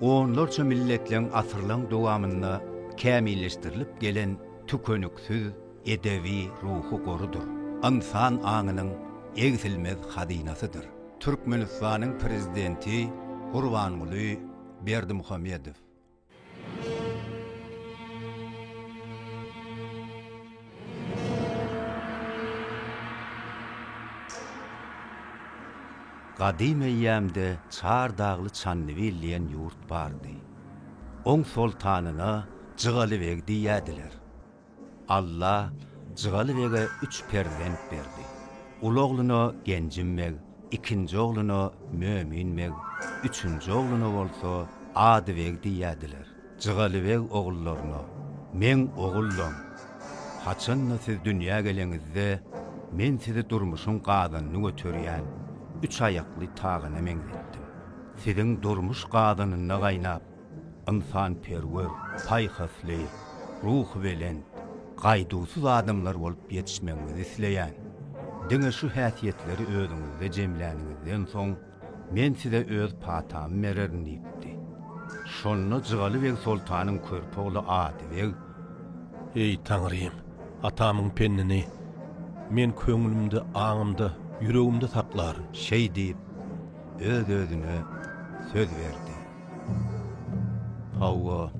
Onlarça milletleň asyrlaň dowamynda kämilleşdirilip gelen tükeniksiz edebi ruhy gorudyr, ynsan aňynyň egsilmez hazynasydyr. Türkmenistanyň Prezidenti Gurbanguly Berdimuhamedow. Gadym eýýämde Çar Dagly Çandybil diýen ýurt bardy. Oň soltanyna Jygaly beg diýýädiler. Alla Jygaly bege üç perzent berdi. Uly ogluna Genjim beg, ikinji ogluna Mömin beg, üçünji ogluna bolsa Ady beg diýýädiler. Jygalybeg ogullaryna, Meň ogullam, haçan-da siz dünýä geleňizde, men sizi durmuşyň gazanyny göterýän üç aýakly tagyna meňzetdim. Siziň durmuş gazanynda gaýnap, ynsanperwer, paýhasly, ruhubelent, gaýduwsyz adamlar bolup ýetişmegiňizi isleýän. Diňe şu häsiýetleri özüňizde jemläniňizden soň, Men size öz patamy bererin diýipdi. Şonda Jygaly beg soltanyň körpe ogly Ady beg. Eý, Taňrym, atamyň pennini men köňlümde, aňymda, ýüregimde saklaryn. Şeý diýip, öz-özüne söz berdi. Hawa.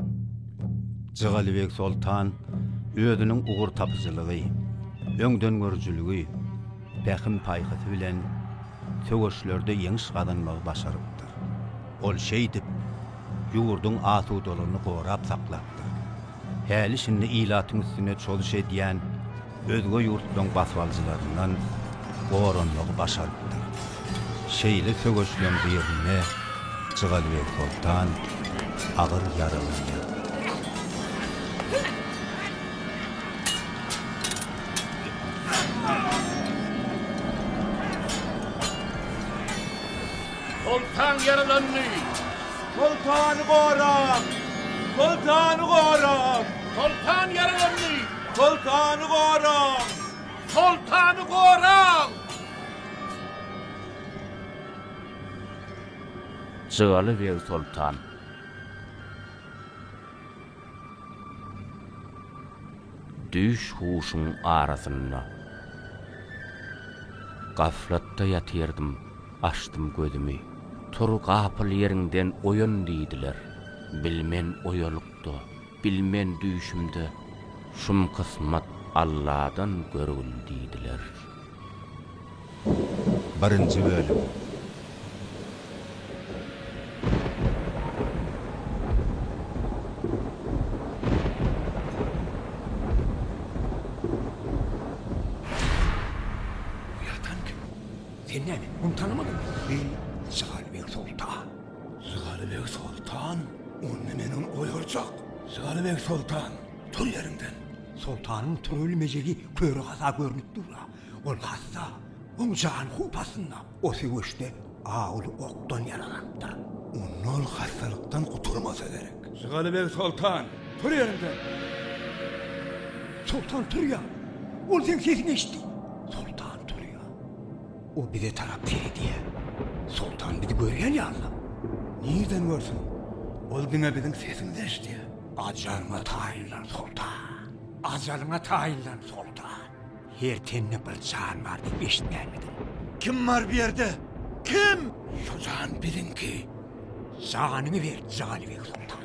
Jygalybeg soltan özüniň ugurtapyjylygy, öňdengörüjiligi, pähim-paýhasy bilen söweşlerde ýeňiş gazanmagy başarypdyr. Ol şeýdip, ýurduň asudalygyny gorap saklapdyr. Häli-şindi ilatyň üstüne çozuş edýän özge ýurtlaryň basybalyjylaryndan goranmagy başarypdyr. Şeýle söweşleň birinde Jygalybeg Soltan agyr ýaralanýar. Soltan ýaralandy! Soltany gorap! Soltany gorap! Soltan ýaralandy! Soltany goraň! Soltany goraň! Jygaly beg soltan. Düýş huşuň arasynda. Gaflatda ýatyrdym, açdym gözümi. Tur gapyl ýeriňden oýan diýdiler. Bilmen oýalyk-da. Bilmen düýşümde şum kysmat Alladan görgül diýdiler. Birinji bölüm. Uýatan kim? Sen näme, muny tanamadyňmy? Eý, zalim Ýurtsoltan! Jygaly beg soltan, ony men hem oýarjak. Jygaly beg soltan, tur ýeriňden. Soltanyň turan mejegi köri gaza görnüp dur-a. Ol hassa, oň jany howp astynda. O söweşde awuly okdan ýaralanypdyr. Onda ol hassalykdan gutulmasa gerek. Jygaly beg soltan, tur ýeriňden. Soltan turýar. Ol seň sesiňi eşitdi. Soltan turýar. O bize tarap seredýär. Soltan bizi görýän ýaly-la. Nirden görsün? Ol diňe biziň sesimizi eşidýär. Ajalyňa taýynlan, soltan! Ajalyňa taýynlan, soltan! Her tende bir jan bar diýip eşitmänmidiň? Kim bar bu ýerde? Kim? Şu jan biziňki. Janyňy ber, Janybek soltan!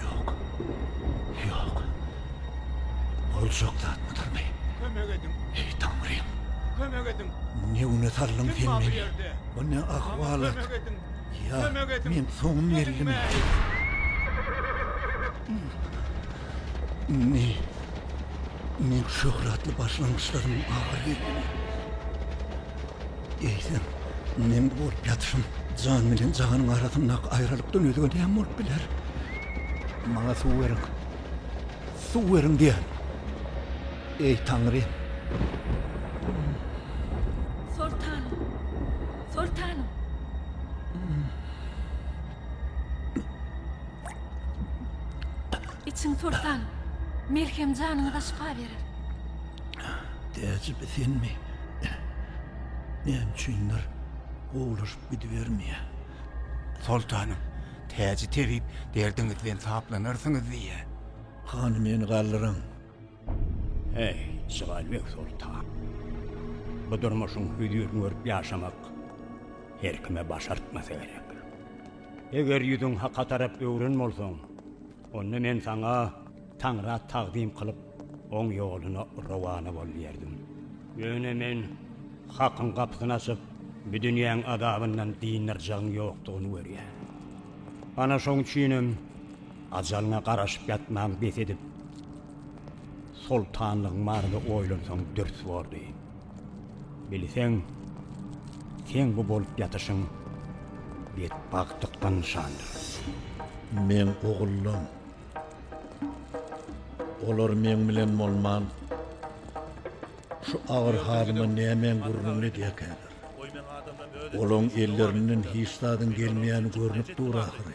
Ýok. Ýok. Boljak zatmydarmy? Kömek ediň! Eý, Taňrym! Kömek ediň! Ne güne saldyň sen meni? Bu ne ahwalat? Kömek ediň! Ýa, meň soňum geldimi? Indi meň şöhratly başlangyçlaryň ahyry geldimi? Eýsem, meň bu bolup ýatyşym jan bilen jahanyň arasyndaky aýralykdan özge näme bolup biler? Maňa suw beriň! Suw beriň diýýän! Eý, Taňrym! Soltanym! Soltanym! Içiň, soltanym! Melhem janyňyza şypa berer. Täjimi senmi? Näme üçindir gowulaşyp gidibermeýär. Soltanym, Täji tebip, derdiňiz bilen saplanarsyňyz diýýär. Hany meni galdyryň. Heý, Jygalybeg soltan. Bu durmuşyň hüzürini görüp ýaşamak her kime başartmasa gerek. Eger ýüzüň haka tarap öwren bolsaň, Onda men saňa Taňra tagzym kylyp, oň ýoluna rowana bol diýerdim. Ýöne men Hakyň gapysyny açyp, bu dünýäň azabyndan dyndarjagyň ýokdugyny görýän. Ana şoň üçinem ajalyňa garaşyp ýatmagyňy bes edip, Soltanlygyň barada oýlansaň dürs bordy. Bilseň, seň bu bolup ýatyşyň betbagtlykdan nyşandyr. Meň ogullarym. Olar meň bilen bolman, şu agyr halyma nämäň gürrüňini edýärkäler. Olaryň ellerinden hiç zadyň gelmeýäni görnüp dur ahyry.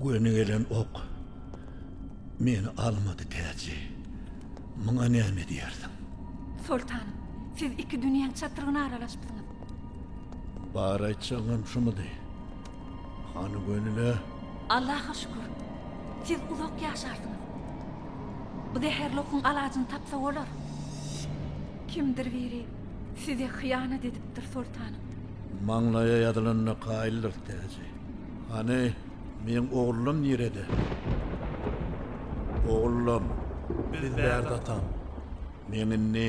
Göni gelen ok meni almady täji. Muňa näme diýersiň? Soltanym, siz iki dünýäň çatrygyna aralaşypsyňyz. Bar aýtjagyňam şumudy? Hany gönüle? Allaha şükür. Siz uzak ýaşarsyňyz. Bu zäherli okuň alajyny tapsa bolar. Kimdir biri size hyýanat edipdir, soltanym. Maňlaýa ýazylanyna kaýyldyr, täji. Hany, meň ogullym nirede? Ogullym. Biz bärde, atam. Meň indi.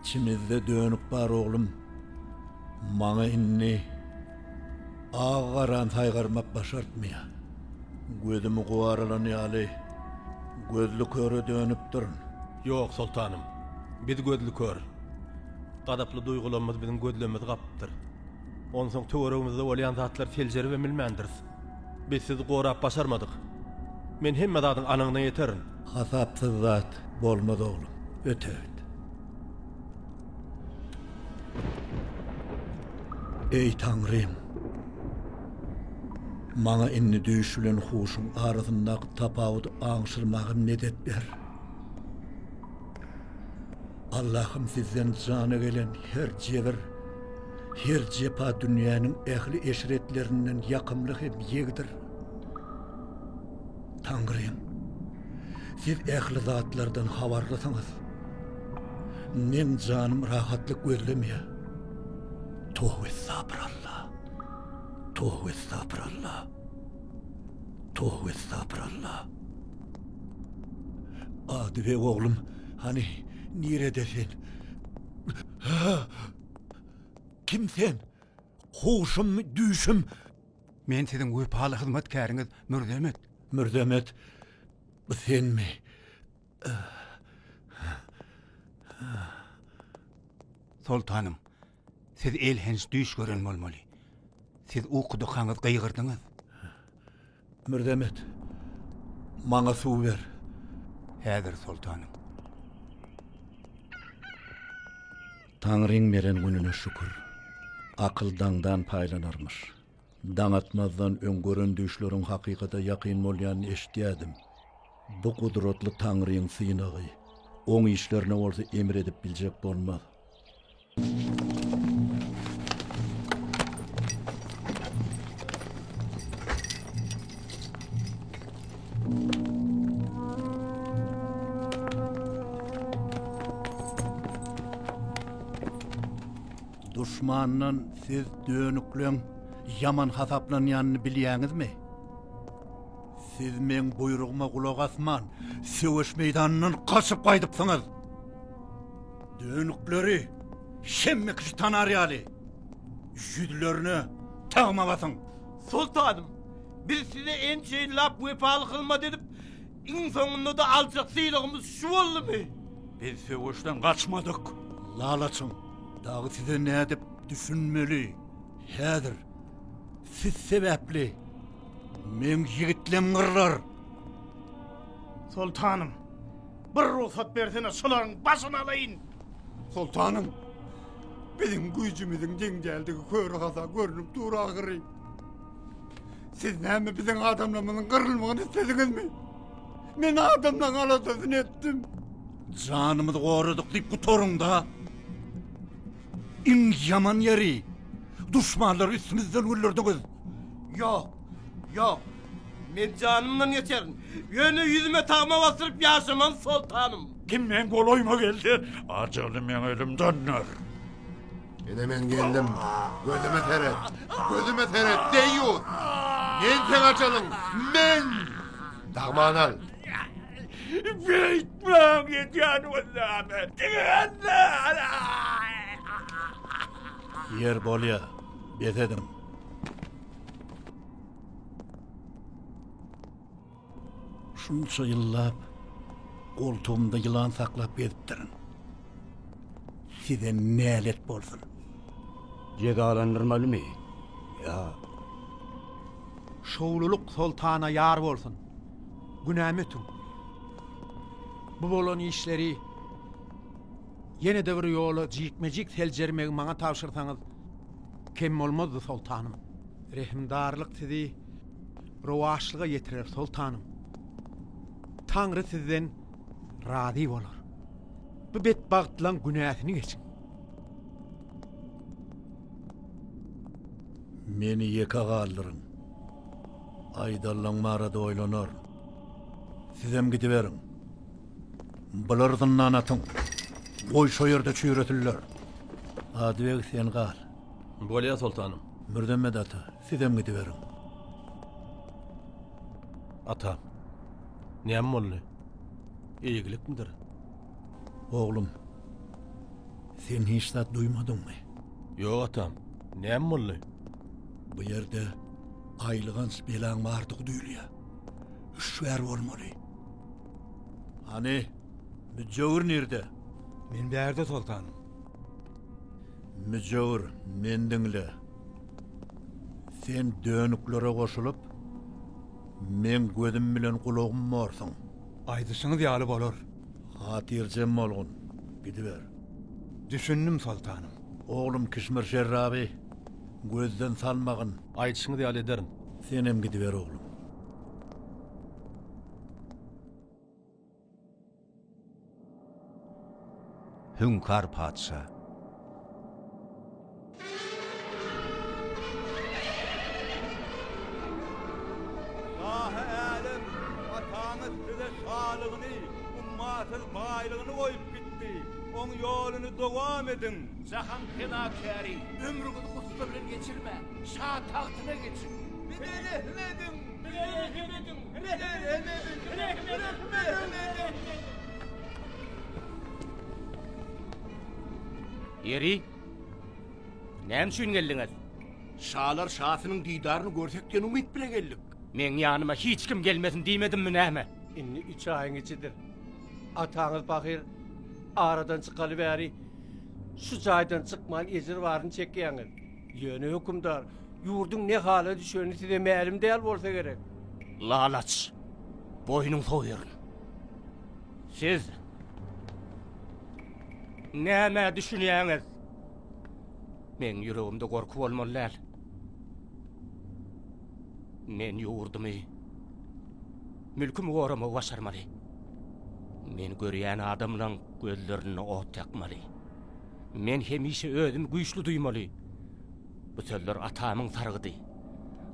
Içimizde dönük bar oglum. Maňa indi agy-garany saýgarmak başartmaýar. Gözümi guwaralan ýaly, gözlüköre dönüpdirin. Ýok, soltanym. Biz gözlükör. Gazaply duýgularymyz biziň gözlerimizi gapypdyr. Onsoň töweregimizde bolýan zatlary seljeribem bilmändiris. Biz sizi gorap başarmadyk. Men hemme zadyň anygyna ýeterin. Hasapsyz zat bolmaz oglum. Ötert. Eý Taňrym! Maňa indi düýş bilen huşuň arasyndaky tapawudy aňşyrmaga medet ber. Allahym sizden jana gelen her jebir, her jepa dünýäniň ähli eşretlerinden ýakymly hem ýegdir. Taňrym, siz ähli zatlardan habarlysyňyz. Meň janym rahatlyk gözlemýä. Toh estapr Allah. Toh estapr Allah. Toh estapr Allah. Ady we oglum Hany, nirede sen? Hä? Kim sen? Huşummy, düýşüm? Men siziň wepaly hyzmatkäriňiz Mürzemet. Mürzemet, bu senmi? Soltanym, Siz elhenç düýş gören bolmaly. Siz ukudykaňyz gygyrdyňyz. Mirdemet, maňa suw ber. Häzir, soltanym. Taňryň beren gününe şükür. Akyl daňdan paýlanarmyş. Daň atmazdan öň gören düýşleriň hakykata ýakyn bolýanyny eşitýädim. Bu gudratly Taňryň synagy. Oň işlerine bolsa emr edip biljek bolmaz. Duşmandan siz dönükleň ýaman hasaplanýanyny bilýäňizmi? Siz meň buýrugyma gulak asman, söweş meýdanyndan gaçyp gaýdypsyňyz. Dönükleri şemme kişi tanar ýaly, ýüzlerine tagma basyň! Soltanym, biz size ençeýin lap wepaly hyzmat edip, iň soňunda-da aljak sylagymyz şu boldumy? Biz söweşden gaçmadyk. Lalaçyň dagy size nädip düşünmeli? Häzir siz sebäpli meň ýigitlem gyrlar! Soltanym! Bir rugsat bersene, şolaryň başyny alaýyn! Soltanym, biziň güýjümiziň deň däldigi köre-haza görnüp dur ahyry. Siz näme biziň adamlarymyzyň gyrylmagyny islediňizmi? Men adamlaň aladasyny etdim. Janymyzy goradyk diýip gutaryň-da! Iň ýaman ýeri, duşmanlary üstümizden güllerdiňiz. Ýok, ýok. Men janymdan geçerin. Ýöne ýüzüme tagma basdyryp ýaşaman, soltanym. Kim meň golaýyma geldi, ajaly meň elimden öler. Ine men geldim. Gözüme seret. Gözüme seret, deýýus. Men seň ajalyň. Men! Dagmany al. Beýtmäň, edýän özüňe. Diňe Ýer bolýa. Bes ediň. Şunça ýyllap goltugymda ýylan saklap gezipdirin. Size nälet bolsun. Jezalandyrmalymy? Ýa. Şowlulyk soltana ýar bolsun. Günämi ötüň. Bu bolan işleri ýene-de bir ýola jikme-jik seljermegi maňa tabşyrsaňyz, Kem bolmazdy soltanym. Rehimdarlyk sizi rowaçlyga ýetirer soltanym. Taňry sizden razy bolar. Bu betbagtlaň günäsini geçiň. Meni ýeke galdyryň. Aýdallaň barada oýlanar. Sizem gidiberiň. Bular zyndan atyň. Goý şo ýerde çüýresinler. Adybeg sen gal. Bolýa soltanym. Mürzemet ata, sizem gidiberiň. Ata. Näme boldy? Eýgilikmidir? Oglum, sen hiç zat duýmadyňmy? Ýok atam. Näme boldy? Bu ýerde gaýylganç belaň bardygy duýulýar. Hüşgär bolmaly. Hany, müjewür nirde? Men bärde, soltanym. Müjewür, meni diňle. Sen dönüklere goşulyp, meň gözüm bilen gulagym borsuň. Aýdyşyňyz ýaly bolar. Hatyrjem bolgun, gidiber. Düşündim, soltanym. Oglum Kişmir Şerraby gözden salmagyn. Aýdyşyňyz ýaly ederin. Senem gidiber, oglum. Hüňkar patyşa. Şahy älem, ataňyz size şalygyny, ummasyz baýlygyny goýup gitdi. Oň ýoluny dowam ediň. Jahan penakäri, ömrüňizi gussa bilen geçirmäň. Şa tagtyna geçiň. Bize rehim ediň! Bize rehim ediň! Ýeri, näme üçin geldiňiz? Şalar şasynyň didaryny görsek diýen umyt bilen geldik. Meň ýanyma hiç kim gelmesin diýmedimmi näme? Indi üç aýyň içidir. Ataňyz pahyr aradan çykaly bäri şu jaýdan çykman ejir baryny çekýäňiz. Ýöne hökümdar, ýurduň ne hala düşeni size mälim däl bolsa gerek. Lalaç, boýnuň soýaryn. Siz nämä düşünýäňiz? Meň ýüregimde gorky bolmaly däl. Men ýurdumy, mülkümi goramagy başarmaly. Men görýän adamlaň gözlerinde ot ýakmaly. Men hemişe özümi güýçli duýmaly. Bu sözler atamyň sargydy.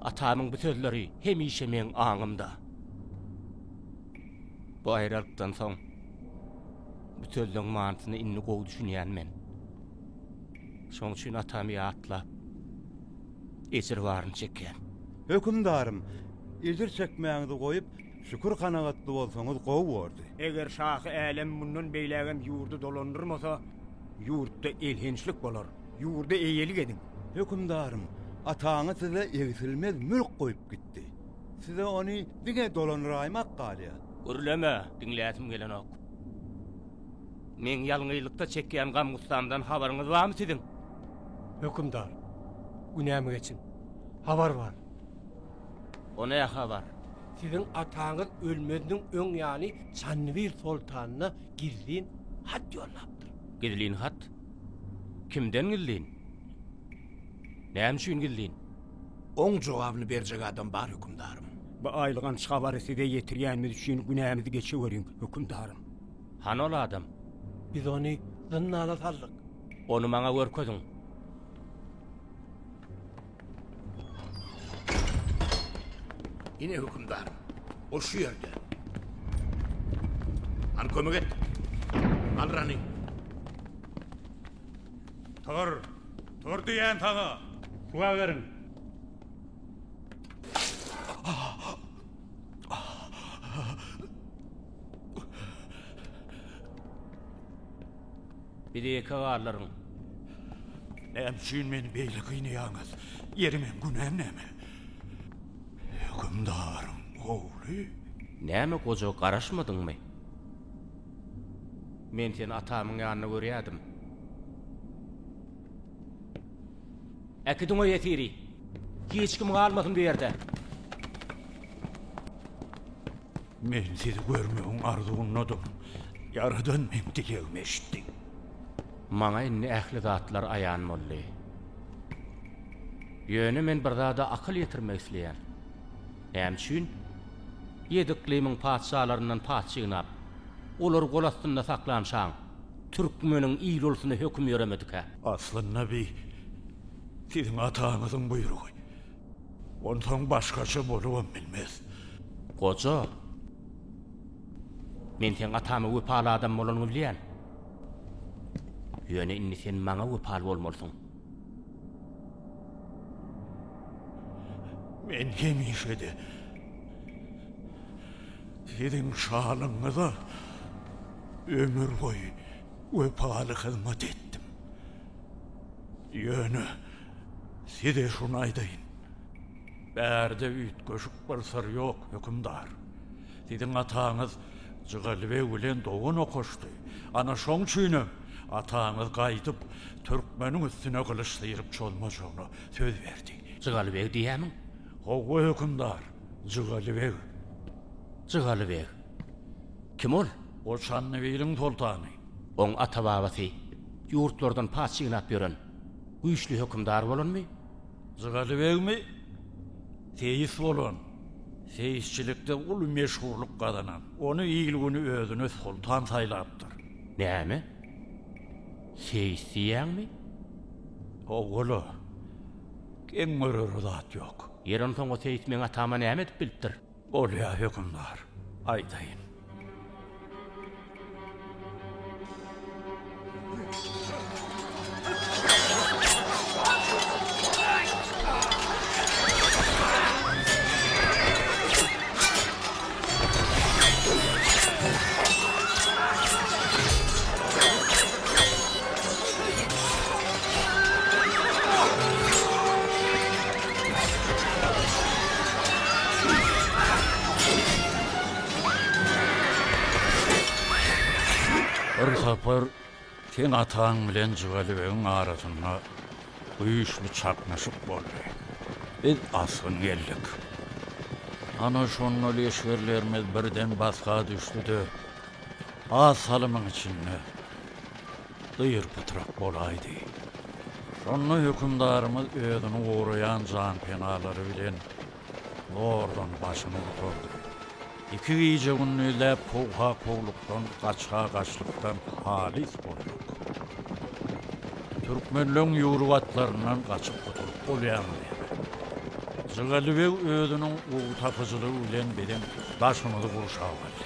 Atamyň bu sözleri hemişe meň aňymda. Bu aýralykdan soň bu sözleň manysyna indi gowy düşünýän men. Şoň üçin atamy ýatlap, ejir baryny çekýän. Hökümdarym, ejir çekmäňizi goýup, Şükür kanagatly bolsaňyz gowy bordy. Eger şahy älem mundan beýlägem ýurdy dolandyrmasa, ýurtda elhençlik bolar. Ýurda eýelik ediň. Hökümdarym, ataňyz size egsilmez mülk goýup gitdi. Size ony diňe dolandyraýmak galýar. Gürleme, diňläsim gelenok. Meň ýalňyzlykda çekýän gam-gussamdan habaryňyz barmy siziň? Hökümdar, günämi geçiň. Habar bar. O ne habar? Siziň ataňyz ölmeziniň öň ýaly Çanybir soltanyna gizlin hat ýollapdyr. Gizlin hat? Kimden gizlin? Näme üçin gizlin? Oň jogabyny berjek adam bar, hökümdarym. Bu aýylganç habary size ýetirýänimiz üçin günämizi geçiweriň, hökümdarym. Hany ol adam? Biz ony zyndana saldyk. Ony maňa görkeziň. Ine hükümdar. O şu yerde. Al kömek et. Al Rani. Tur. Tur diyen sana. Kula verin. Biz ýeke galaryn. Näme üçin meni beýle gynaýaňyz? Ýeriňem, günäm näme? Hökümdaryň ogly? Näme goja garaşmadyňmy? Men seni atamyň ýanynda görýärdim. Äkidiň o ýesiri. Hiç kim galmasyn bu ýerde. Men sizi görmegiň arzuwyndadym. Ýaradan meň dilegimi eşitdi. Maňa indi ähli zatlar aýan boldy. Ýöne men bir zada akyl ýetirmek isleýän. Näme üçin? Ýedi yklymyň patyşalaryndan paç ýygnap, olary gol astynda saklanşaň, Türkmeniň il ulsuna höküm ýöremedikä? Asly Nabi siziň ataňyzyň buýrugy. Onsoň başgaça bolubam bilmez. Goja, men seň atama wepaly adam bolanyňy bilýän. Ýöne indi sen maňa wepaly bolmalysyň. Men hemişe-de siziň şalygyňyza ömürboýy wepaly hyzmat etdim. Ýöne size şuny aýdaýyn, bärde üýtgeşik bir syr ýok, hökümdar. Siziň ataňyz Jygaly beg bilen dogan okaşdy. Ana şoň üçinem ataňyz gaýdyp, türkmeniň üstüne gylyç syryp çozmajagyna söz berdi. Jygaly beg diýýämiň? Howwa, hökümdar, Jygaly beg. Jygaly beg? Kim ol? Ol Çandybiliň soltany. Oň ata-babasy ýurtlardan paç ýygnap ýören güýçli hökümdar bolanmy? Jygaly begmi, seýis bolan, seýisçilikde uly meşhurlyk gazanan. Ony il-güni özüne soltan saýlapdyr. Näme? Seýis diýýäňmi? Hawa-la. Geň görere zat ýok. Ýeri onsoň o seýis meň atama näme edip bilipdir? Bolýa hökümdar, aýdaýyn. Bir sapar seň ataň bilen Jygalybegiň arasynda güýçli çaknyşyk boldy. Biz asgyn geldik. Ana şonda leşgerlerimiz birden basga düşdi-de, az salymyň içinde. dyr-pytrak bolaýdy. Şonda hökümdarymyz özüni goraýan janpenalary bilen zordan başyny gutardy. Iki gije-gündizläp kowha-kowlukdan, gaçha-gaçlykdan halys bolduk. Türkmenleň ýüwrük atlaryndan gaçyp gutulyp bolýamy näme? Jygaly beg özüniň ugtapyjylygy bilen biziň daşymyzy gurşap aldy.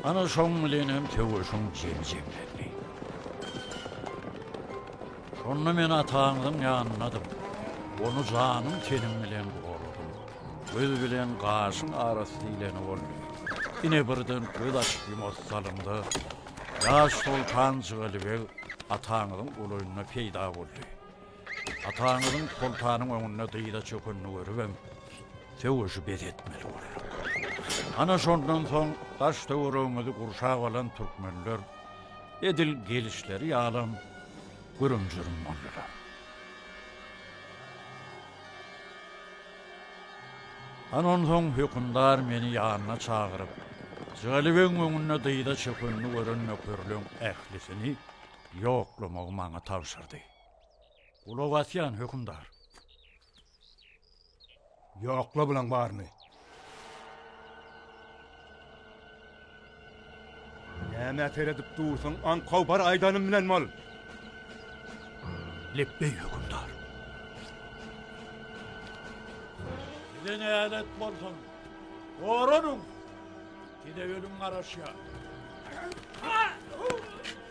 Ana şoň bilenem söweşiň jemi jemlendi. Şonda men ataňyzyň ýanynadym. Ony janym-tenim bilen goradym. Göz bilen gaşyň arasy diýleni boldy. Ine birden göz açyp-ýumasy salymda, ýaş soltan Jygaly beg ataňyzyň golaýynda peýda boldy. Ataňyzyň soltanyň öňünde dyza çökenini görübem, söweşi bes etmeli bolar. Ana şondan soň daş-töweregimizi gurşap alan türkmenler edil gelişleri ýalam gürüm-jürüm boldular. Ana onsoň hökümdar meni ýanyna çagyryp, Jygalybegiň öňünde dyza çökenini gören nökerleň ählisini ýoklamagy maňa tabşyrdy. Gulak asýan, hökümdar. Ýokla bulaň baryny. Näme seredip dursuň, aňkow bar aýdanym bilen bol. Lepbeý hökümdar. Size nälet bolsun. Goranyň. Size ölüm garaşýar.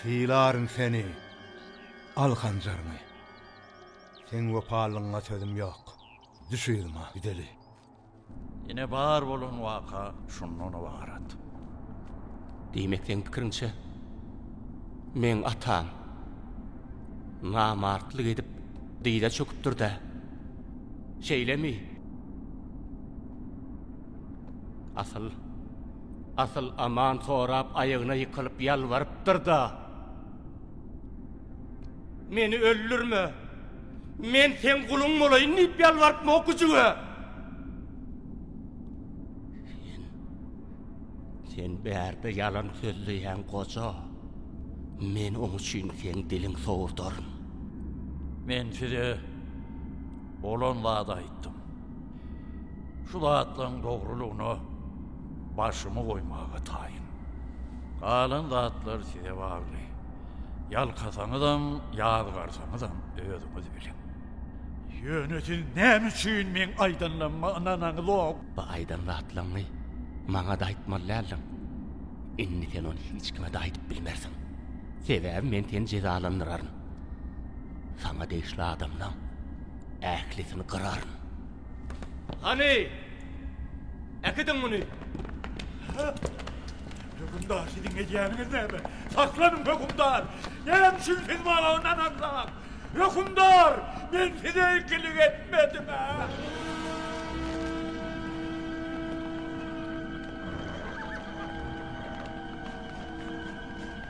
Sylaryn seni, al hanjaryňy. Seň wepalylygyňa sözüm ýok. Düş yzyma, gideli. Ine bar bolan waka şundan ybarat. Diýmek seň pikiriňçe, meň atam namartlyk edip dyza çöküpdir-dä, şeýlemi? Asyl, asyl aman sorap aýagyna ýykylyp ýalbarypdyr-da, Meni öldürme, men seň guluň bolaýyn diýip ýalbarypmok güjüge. Sen, sen bärde ýalan sözleýäň goja, men oň üçin seň diliň sowurdaryn. Men size bolan zady aýtdym. Şu zatlaryň dogrulygyna başymy goýmaga taýyn. Galan zatlar size bagly. Ýalkasaňyzam, ýazgarsaňyzam özüňiz biliň. Ýöne siz näme üçin meň aýdanlaryma ynanaňyzok? Bu aýdan zatlaryňy maňa-da aýtmaly däldiň. Indi sen ony hiç kime-de aýdyp bilmersiň. Sebäbi men seni jezalandyraryn. Saňa degişli adamlaň. Ählisini gyraryn. Hany, äkidiň muny! Hökümdar, siziň edýäniňiz näme? Saklanyň, hökümdar! Näme üçin siz maňa ynanansoňam? Hökümdar, men size ikilik etmedim-ä!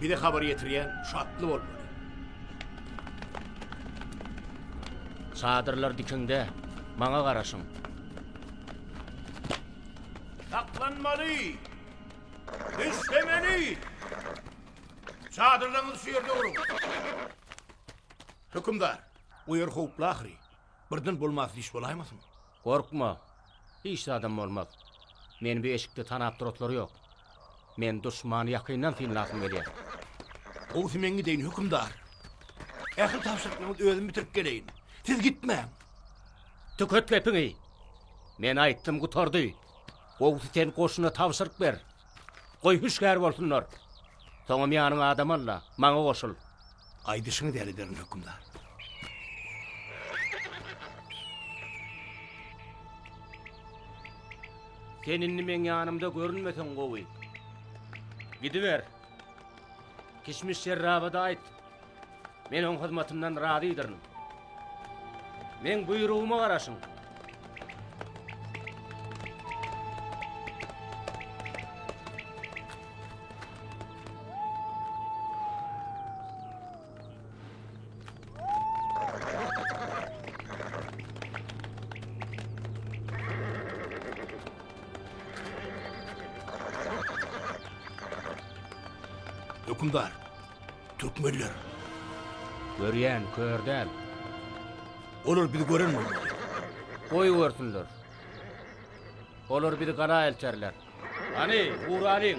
Bize habar ýetirýän şu atly bolmaly. Çadyrlar dikiňde, maňa garaşyň. Saklanmaly! Düşlemeli! Çadyrlaryňyzy şu ýerde guruň. Hökümdar, bu ýer howply ahyry. Birden bolmasy iş bolaýmasyn? Gorkma! Hiç zadam bolmaz. Meni bu eşikde tanap duratlary ýok. Men duşmany ýakyndan synlasym gelýär. Gowusy men gideýin, hökümdar. Ähli tabşyryklaryňyzy özüm bitirip geleýin. Siz gitmäň! Tüket gepiňi! Men aýtdym, gutardy. Gowusy sen goşuna tabşyryk ber. Goý, hüşgär bolsunlar. Soňam ýanyňa adam al-da, maňa goşul. Aýdyşyňyz ýaly ederin, hökümdar. Sen indi meň ýanymda görünmeseň gowy. Gidiber. Kişmiş şerraba-da aýt, Men oň hyzmatyndan razydyryn. Meň buýrugyma garaşyň. Hökümdar, Türkmenler. Görýän, kör däl. Olar bizi gören bolmaly. Goý görsünler. Olar bizi gala elterler. Hany, ura alyň.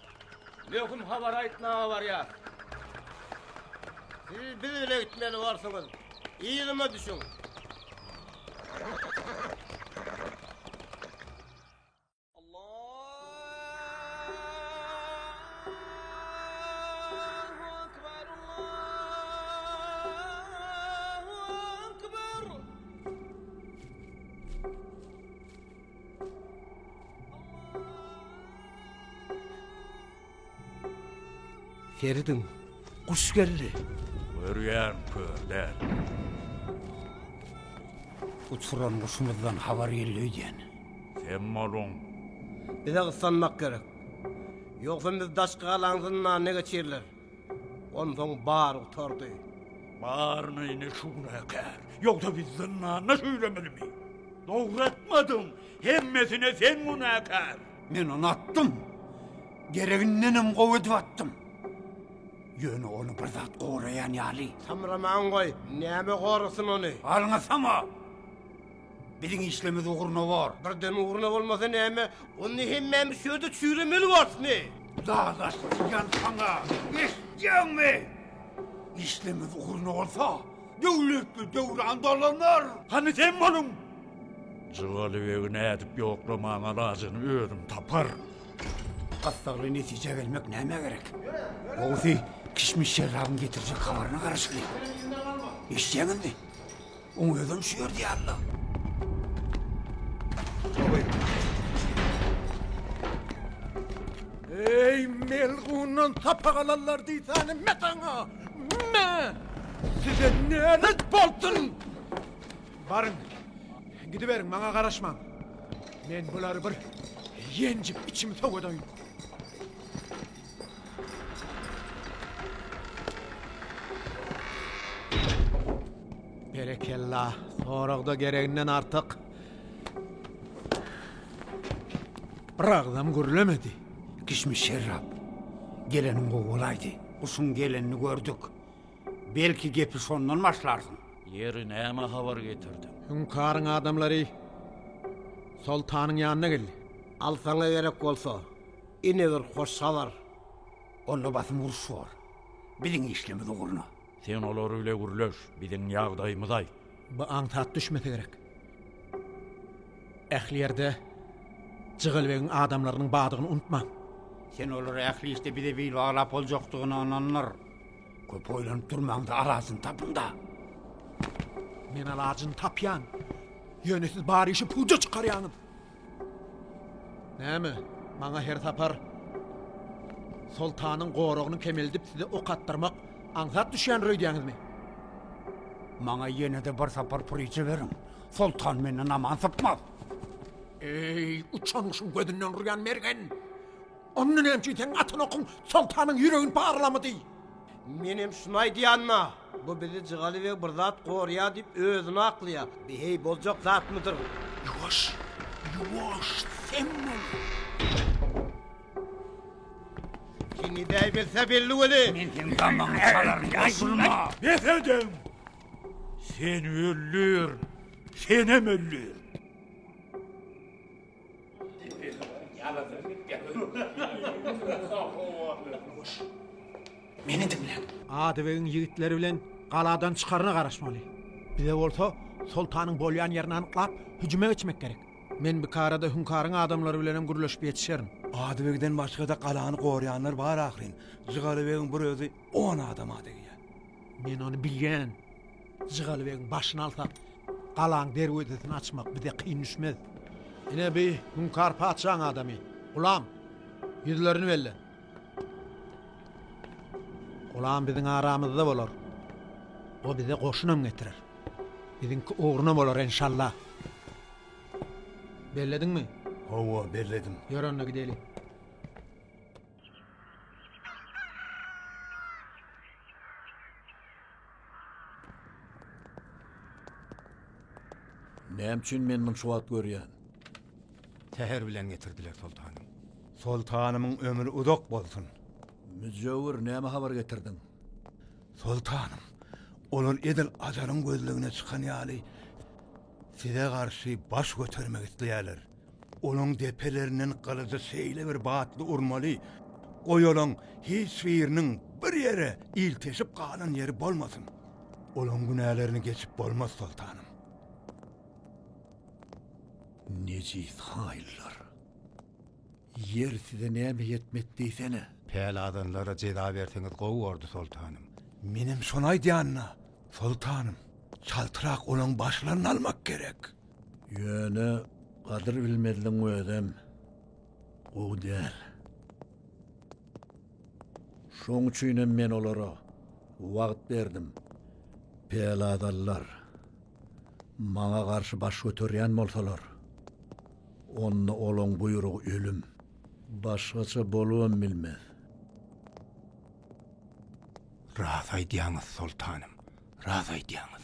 Möhüm habar aýtmaga barýar. Siz biz bile gitmeli borsuňyz. Yzyma düşüň. Feridiň guş geldi. Görýän körden. Uçuran guşumuzdan habar geldi öýdýän. Sen malun. Bize gyssanmak gerek. Ýogsa biz daşky galaň zyndan ne geçirler? Onsoň bary gutardy. Baryny ine şu gün äkär. Ýogsa biz zyndanda şüýlemelimi? Dogry etmediň. Hemmesine sen günäkär. Men ony atdym. Geregindenem gowy edip atdym. Ýöne ony bir zat goraýan ýaly. Samramaň goý. Näme gorasyn ony? Alňasama! Biziň işlemiz ugruna bor. Birden ugruna bolmasa näme? Onda hemmämiz şu ýerde çüýremeli borusmy? Dalaşdyryjan saňa, eşitýäňmi? Işlemiz ugruna bolsa, döwletli döwran dolanar. Hany sen boluň! Jygaly begi nädip ýoklamaň alajyny özüm tapar. Gyssagly netijä gelmek nämä gerek? Gowusy, Kişmiş şerrabyň getirjek habaryna garaşylyň. Eşitýäňizmi? Oň özem şu ýerde ýaly-la. Eý, melgundan sapa galanlar diýsänim me saňa! Me! Size nälet bolsun! Baryň, gidiberiň, maňa garaşmaň. Men bulary bir ýenjip içimi sowadyň. Berekella, soragda gereginden artyk. Bir agzam gürlemedi. Kişmiş şerrap. Geleniň gowy bolaýdy. Guşuň gelenini gördük. Belki gepi şondan başlarsyň. Ýeri näme habar getirdiň? Hüňkaryň adamlary soltanyň ýanyna geldi. Alsaňa gerek bolsa, Ine bir hoş habar. Onda basym uruş bor. Biziň işlemiz ugruna. Sen olar bile gürleş, biziň ýagdaýymyzy aýt. Bu aňsat düşmese gerek. Ähli ýerde Jygelbegiň adamlarynyň badygyny unutmaň. Sen olara ähli işde bize bil baglap boljakdygyna ynandyr. Köp oýlanyp durmaň-da, alaçyny tapyň-da! Men alaçyny tapýan. Ýöne siz bar işi puja çykarýaňyz. Näme, maňa her sapar soltanyň goragyny kemeldip size ok atdyrmak aňsat düşýändir öýdýäňizmi? Maňa ýene-de bir sapar puryja beriň. Soltan menden aman sypmaz. Eý, uçan guşuň gözünden urýan mergen! Onda näme üçin seniň atan okuň soltanyň ýüregini parlamady? Menem şuny aýdýanma? Bu bizi jygaly we bir zat gorýar diýip özüni aklaýar. Bi heý boljak zatmydyr bu? Ýuwaş, ýuwaş, sen bol! Kim idäýbilse belli weli. Men seň damagyňy çalaryn, goşulma! Bes ediň! Sen öldür, senem öldür! Meni diňläň. Adybegiň ýigitleri bilen galadan çykaryna garaşmaly. Bize bolsa soltanyň bolýan ýerini anyklap, hüjüme geçmek gerek. Men bikarada Hünkaryň adamlary bilenem gürleşip ýetişerin. Adybegden başga-da galany goraýanlar bar ahyryn. Jygalybegiň bir özi on adama degýär. Men ony bilýän. Jygaly begiň başyny alsak, galaň derwezesini açmak bize kyn düşmez. Ine bi hunkar patyşaň adamy. Gulam, ýüzlerini belle. Gulam biziň aramyzda bolar. O bize goşunam getirer. Biziňki ugruna bolar enşalla. Bellediňmi? Hawa, belledim. Ýör onda gideli. Näme üçin men muny şu wagt görýän? Säher bilen getirdiler, soltanym. Soltanymyň ömri uzak bolsun! Müjewür, näme habar getirdiň? Soltanym, olar edil ajalyň gözlegine çykan ýaly, size garşy baş götermek isleýärler. Olaň depelerinden gylyjy şeýle bir batly urmaly, goý olaň hiç biriniň bir ýere ilteşip galan ýeri bolmasyn. Olaň günälerini geçip bolmaz, soltanym. Nejis haýyllar! Ýer size näme ýetmedi diýsene? Pälazanlara jeza berseňiz gowy bordy, soltanym. Menem şony aýdýan-da, soltanym. Çaltrak olaň başlaryny almak gerek. Ýöne gadyr bilmezligiň özem gowy däl. Şoň üçinem men olara wagt berdim. Peladalylar maňa garşy baş göterýän bolsalar, onda olaň buýrugy ölüm. Başgaça bolubam bilmez. Rast aýdýaňyz, soltanym, rast aýdýaňyz.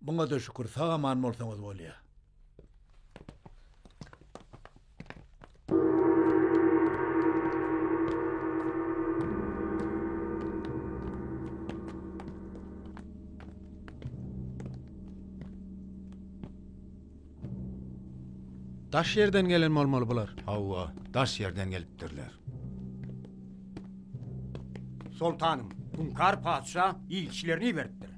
Muňada şükür sag aman bolsaňyz bolýa. Daş ýerden gelen bolmaly bular. Hawa, daş ýerden gelipdirler. Soltanym, Hunkar patyşa ilçilerini iberipdir.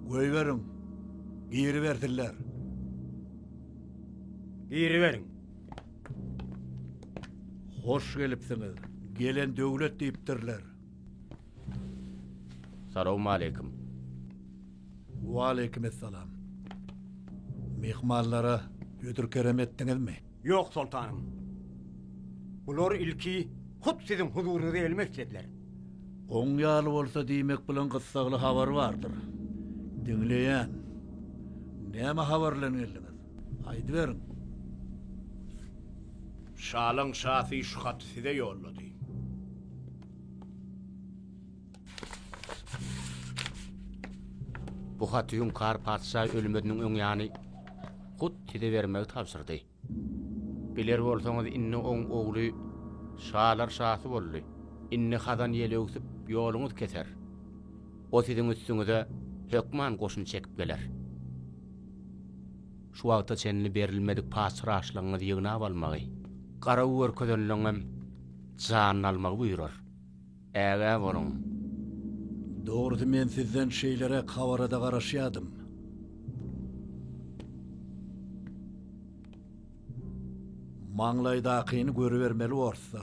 Goýberiň, giribersinler. Giriberiň. Hoş gelipsiňiz. Gelen döwlet diýipdirler. Salowmaleýkim. Waleýkimessalam. Myhmanlara hödür-kerem etdiňizmi? Ýok, soltanym. Bular ilki hut siziň huzuryňyza gelmek islediler. Oň ýaly bolsa diýmek bilen gyssagly habar bardyr. Diňleýän. Näme habar bilen geldiňiz? Aýdyberiň. Şalaň şasy şu haty size ýollady. Bu haty Hüňkar patyşa ölmeziniň öň ýany Hut size bermegi tabşyrdy. Biler bolsaňyz, indi oň ogly şalar şasy boldy. Indi hazan ýeli öwsüp, ýoluňyz keser. O siziň üstüňize hökman goşun çekip geler. Şu wagta çenli berilmedik patyşraşlygyňyzy ýygnap almagy, garaw görkezenligiňem janyny almagy buýrar. Ägä boluň. Dogrusy men sizden şeýleräk habarada garaşýadym. Maňlaýdakyny görübermeli orsa.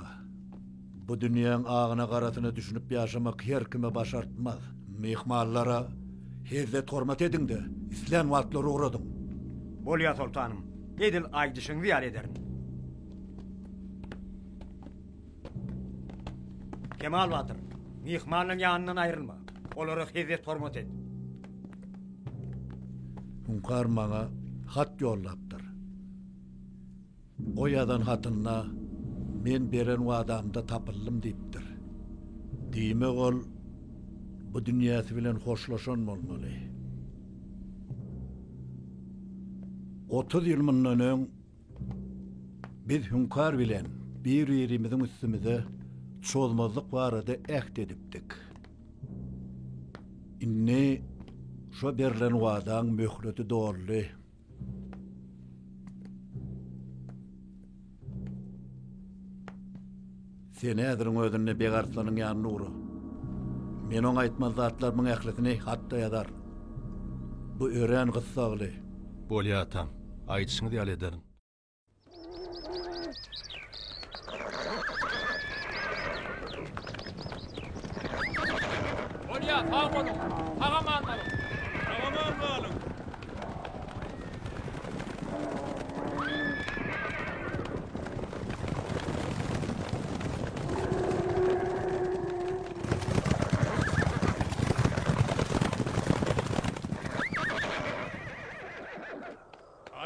Bu dünýäň agyna garasyna düşünip ýaşamak her kime başartmaz. Myhmanlara hezzet hormat ediňde, islän wagtlary ugradyň. Bolýa soltanym, edil aýdyşyňyzy ýaly ederin. Kemal Batyr, myhmanyň ýanyndan aýrylma. Olara hezret hormat et. Hünkar maňa hat ýollapdyr. O ýazan hatynda men beren wadamda tapyldym diýipdir. Diýmek ol bu dünýäsi bilen hoşlaşan bolmaly. Otuz ýyl mundan öň Biz Hüňkar bilen bir-birimiziň üstümize çozmazlyk barada äht edipdik. Indi şo berlen wadaň möhleti doldy. Sen häziriň özünde Begarslanyň ýanyna ugra. Men oňa aýtmaz zatlarymyň ählisini hat-da ýazar. Bu örän gyssagly. Bolýar, atam. Aýdyşyňyz ýaly ederin. Bolýar, sag boluň! Sag-aman galyň! Sag-aman galyň!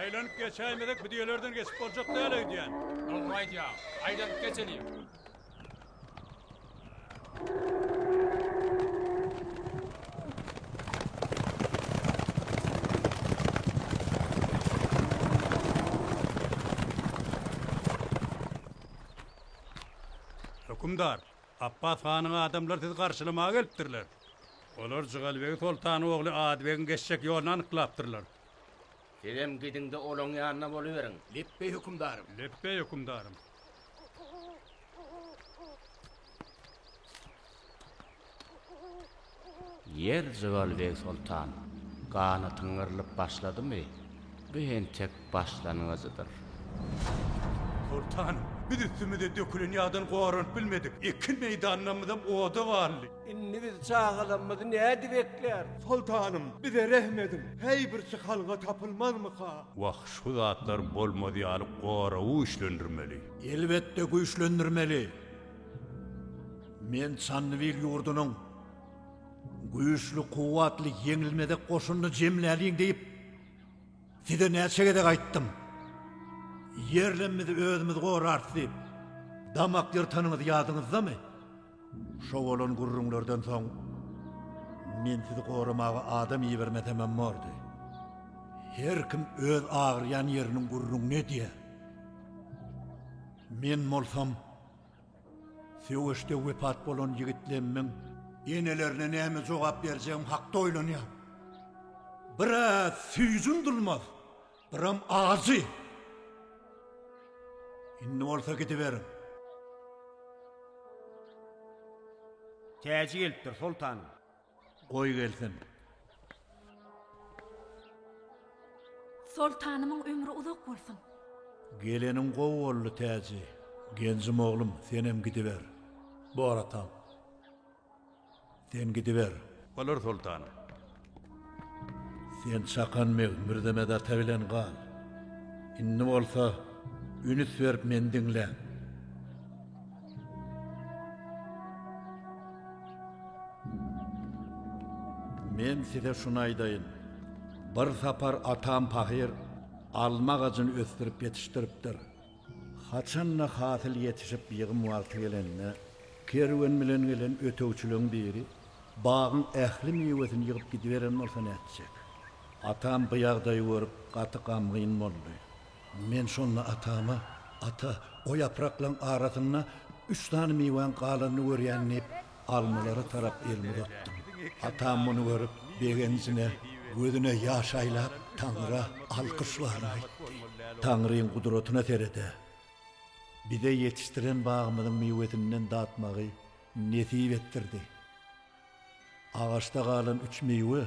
Aýlanyp geçäýmesek bu düýelerden geçip boljak däl öýdýän. Dogry aýdýaň. Aýlanyp geçeliň. Hökümdar, Apbas hanyň adamlary sizi garşylamaga gelipdirler. Olar Jygalbegi soltan ogly Adybegiň geçjek ýoluny anyklapdyrlar. Sizem gidiň-de olaň ýanyna boluberiň. Lepbeý hökümdarym. Lepbeý hökümdarym. Ýer jygaly beg soltan, ganatyň yrlyp başladymy? Bu entek başlangyjydyr. Soltanym, biz üstümize dökülen ýagdan goranyp bilmedik. Ekin meýdanlarymyzam oda galdy. Indi biz çagalarymyzy nädip ekläris? Soltanym, bize rehm ediň, häý bir çykalga tapylmazmyka? Wah, şu zatlar bolmaz ýaly goragy güýçlendirmeli. Elbetde güýçlendirmeli. Men Çandybil ýurdunyň güýçli, kuwwatly, ýeňilmezek goşunyny jemläliň diýip, size näçe gezek aýtdym. Ýerlemimizi özümiz gorarys diýip, damak ýyrtanyňyz ýadyňyzdamy? Şo bolan gürrüňlerden soň, men sizi goramaga adam ibermesemem bordy. Her kim öz agyrýan ýeriniň gürrüňini edýär. Men bolsam, söweşde wepat bolan ýigitlerimiň enelerine näme jogap berjegim hakda oýlanýaryn. Biraz süýjüm dulmaz, Biram ajy. Indi bolsa gidiberiň. Täji gelipdir, soltan. Goý gelsin. Soltanymyň ömri uzak bolsun. Geleniň gowy boldy, Täji. Genjim oglum, senem gidiber. Bor atam. Sen gidiber. Bolar, soltan. Sen Çakan beg Mürzemet ata bilen gal. Indi bolsa ünüs berip meni diňläň. Men size şuny aýdaýyn. Bir sapar atam pahyr alma agajyny ösdürip ýetişdiripdir. Haçan-da hasyl ýetişip ýygym wagty gelende, kerwen bilen gelen ötegçileň biri bagyň ähli miwesini ýygyp gidiberen bolsa nätjek? Atam bu ýagdaýy görüp gaty gamgyn boldy. Men şonda atama, Ata, o ýapraklaň arasynda üç sany miwäň galanyny görýän diýip, almalara tarap elimi uzatdym. Atam muny görüp, begenjine, gözüne ýaş aýlap, Taňra alkyş baryny aýtdy. Taňryň gudratyna sered-ä! Bize ýetişdiren bagymyzyň miwesinden datmagy nesip etdirdi. Agaçda galan üç miwe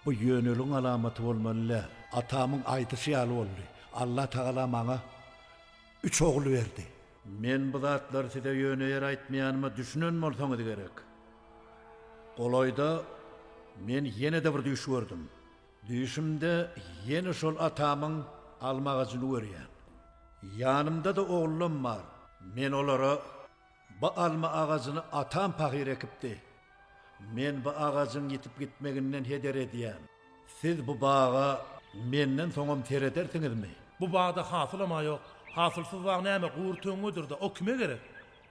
bu ýöneligň alamaty bolmaly däl. Atamyň aýdyşy ýaly boldy. Allatagala maňa üç ogul berdi. Men bu zatlary size ýöne ýere aýtmaýanyma düşünen bolsaňyz gerek. Golaýda men ýene-de bir düýş gördüm. Düýşümde ýene şol atamyň alma agajyny görýän. Ýanymda-da ogullarim bar. Men olara, Bu alma agajyny atam pahyr ekipdi. Men bu agajyň ýitip gitmeginden heder edýän. Siz bu baga menden soňam seredersiňizmi? Bu bagda hasylam-a ýok. Hasylsyz bag näme, gury töňňedir-dä, o kime gerek?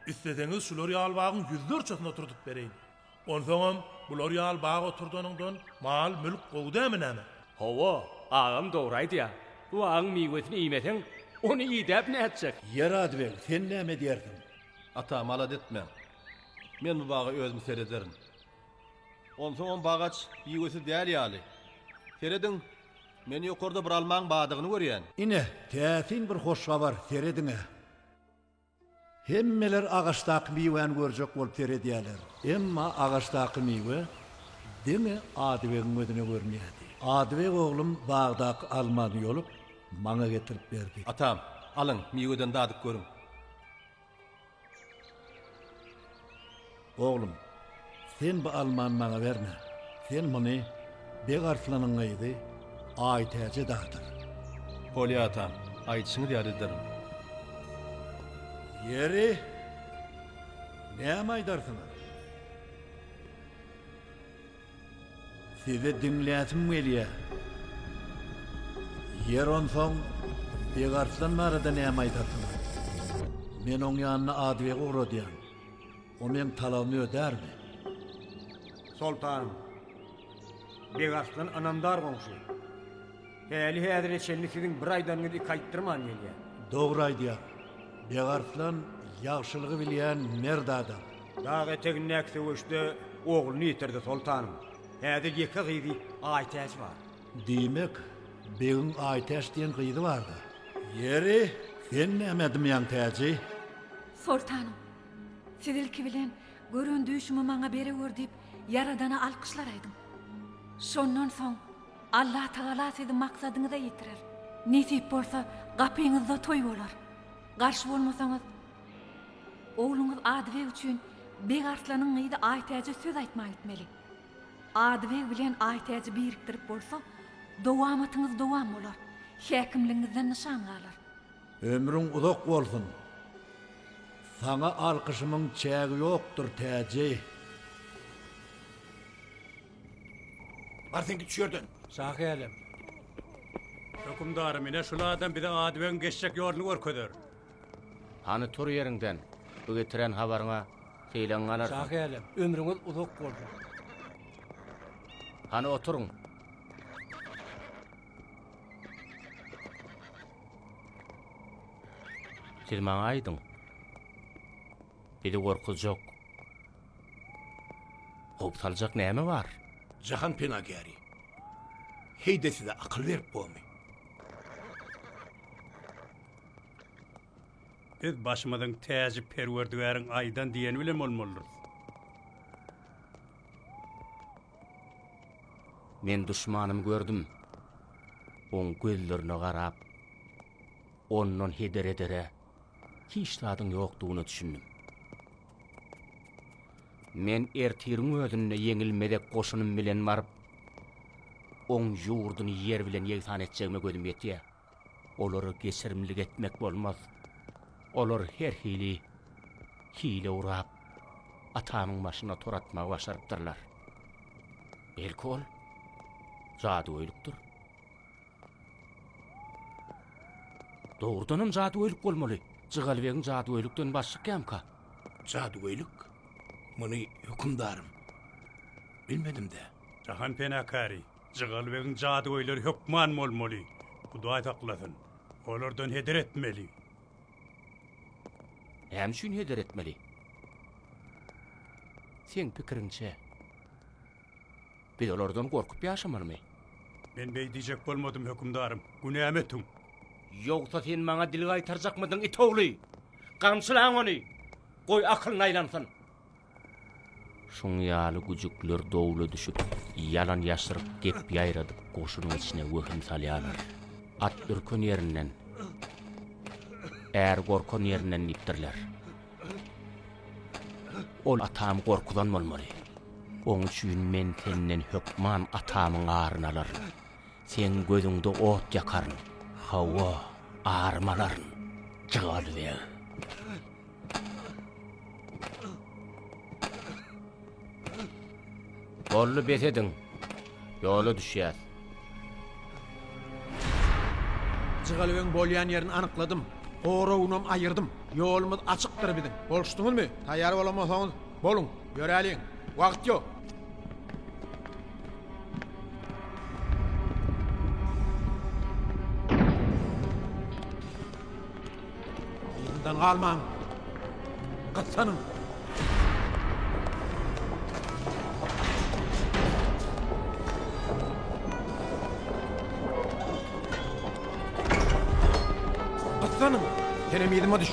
Isleseňiz, şular ýaly bagyň ýüzlerçesini oturdyp bereýin. Onsoňam, bular ýaly bag oturdanyňdan mal-mülk gowy dämi näme? Hawa, agam dogry aýdýar. Bu bagyň miwesini iýmeseň, ony idäp nätjek? Ýer-a beg, sen näme edýärsiň? Ata, malades men. Men bu baga özüm serederin. Onsoňam bagaç miwesiz däl ýaly. Serediň, men ýokarda bir almaň bardygyny görýän. Ine, täsin bir hoş habar, serediň-ä! Hemmeler agaçdaky miwäni görjek bolup seredýärler. Emma agaçdaky miwe diňe Adybegiň gözüne görünýärdi. Adybeg oglum bagdaky almany ýolup, maňa getirip berdi. Atam, alyň, miweden dadyp görüň. Oglum, sen bu almany maňa berme. Sen muny Beg Arslanyň gyzy Aýtäje dadyr. Bolýar, atam. Aýdyşyňyz ýaly ederin. Ýeri, näme aýdarsyňyz? Sizi diňläsim gelýär. Ýer onsoň Begarslan barada näme aýdarsyňyz? Men oň ýanyna Adybegi ugradýan. O meň talabymy ödärmi? Soltanym, Begarslan ynamdar goňşy. Häli-häzire çenli siziň bir aýdanyňyzy iki aýtdyrman gelýär. Dogry aýdýar. Begarslan ýagşylygy bilýän mert adam. Dag etegindäki söweşde ogluny ýitirdi, soltanym. Häzir ýeke gyzy Aýtäç bar. Diýmek, begiň Aýtäç diýen gyzy bardy. Ýeri, sen näme edmýäň, Täji? Soltanym, siz ilki bilen gören düýşümi maňa berewür diýip, Ýaradana alkyşlar aýdyň. Şondan soň Allatagala sizi maksadyňyza ýetirer. Nesip bolsa, gapyňyzda toý bolar. Garşy bolmasaňyz, Ogluňyz Adybeg üçin Beg Arslanyň gyzy Aýtäje söz aýtmana gitmeli. Adybeg bilen Aýtäji birikdirip bolsa, dowamatyňyz dowam bolar, häkimligiňizden nyşan galar. Ömrüň uzak bolsun! Saňa alkyşymyň çägi ýokdur, Täji! Bar sen git şu ýerden! Şahälem! Hökümdarym, ine şul adam bize Adybegiň geçjek ýoluny görkezer. Hany tur ýeriňden, bu getiren habaryňa seýleň galar. Şahy älem, ömrüňiz uzak bolsun. Hany oturyň. Siz maňa aýdyň. Bizi gorkuzjak. Hop saljak näme bar? Jahan penagäri. Heýde size akyl berip bomy? Biz başymyzyň täji Perwerdigäriň aýdan diýeni bilen bolmalydyrys. Men duşmanymy gördüm. Oň gözlerine garap, ondan heder edere hiç zadyň ýokdugyna düşündim. Men ertiriň özünde ýeňilmezek goşunym bilen baryp, oň ýurduny ýer bilen ýegsan etjegime gözüm ýetýär. Olara geçirimlik etmek bolmaz. Olar her hili hile gurap, atamyň başyna tor atmagy başarypdyrlar. Belki ol jadygöýlikdir? Dogrudanam jadygöýlik bolmaly. Jygalybegiň jadygöýlikden baş çykýamyka? Jadygöýlik? Muny hökümdarym, bilmedim-dä. Jahanpena käri, Jygaly begiň jadygöýleri hökman bolmaly. Hudaý saklasyn. Olardan heder etmeli. Näme üçin heder etmeli? Seň pikiriňçe, biz olardan gorkup ýaşamalymy? Men beý diýjek bolmadym, hökümdarym. Günämi etüň. Ýogsa sen maňa dil gaýtarjakmydyň, it ogly? Gamçylaň ony! Goý, akylyny aýlansyn. Şuň ýaly güjükler dowla düşüp, ýalan-ýaşryk gep ýaýradyp, goşunyň içine wehim salýarlar. At ürken ýerinden, är gorkan ýerinden diýipdirler. Ol atamy gorkuzan bolmaly. Oň üçin men senden hökman atamyň aryny alaryn. Seň gözüňde ot ýakaryn. Hawa, arymy alaryn, Jygaly beg! Bolly bes ediň. Ýola düşýär. Jygalöň bolýan ýerini anykladym. Goragynam aýyrdym. Ýolumyz açykdyr biziň. Bolşdyňyzmy? Taýýar bolamasaňyz, boluň. Ýöräliň. Wagt ýok. Ýeriňizden galmaň! Gyssanyň! Gyssanyň! Senem yzyma düş!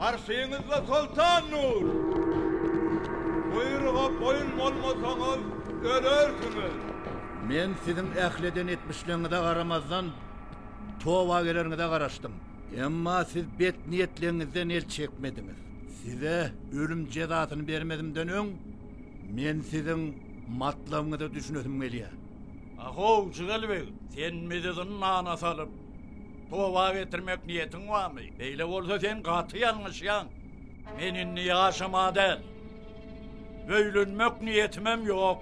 Garşyňyzda Soltan Nur! Buýruga boýun bolmasaňyz, ölersiňiz! Men siziň ähli eden etmişleriňize garamazdan, toba geleriňize garaşdym. Emma siz bet niýetleriňizden el çekmediňiz. Size ölüm jezasyny bermezimden öň, men siziň matlabyňyza düşünesim gelýär. Ahow, Jigel beg, sen bizi zyndana salyp, Toba getirmek niýetiň barmy? Beýle bolsa sen gaty ýalňyşýaň. Men indi ýaşama däl. Öýlenmek niýetimem ýok.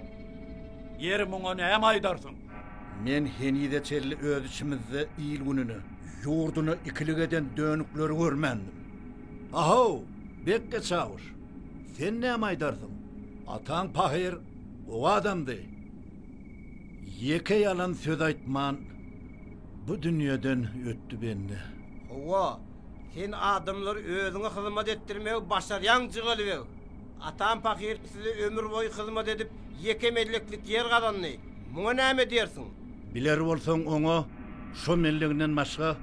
Ýeri muňa näme aýdarsyň? Men henize çenli öz içimizde il-gününi, ýurduny ikilik eden dönükleri görmändim. A-how, bekge çawuş, sen näme aýdarsyň? Ataň pahyr, gowy adamdy. Ýeke ýalan söz aýtman bu dünýeden ötdi bende. Howwa, sen adamlary özüňe hyzmat etdirmegi başarýaň Jygelibeg. Atam pahyr size ömür boýy hyzmat edip ýeke melleklik ýer gazandy. Muňa näme diýersiň? Biler bolsaň oňa şo melleginden başga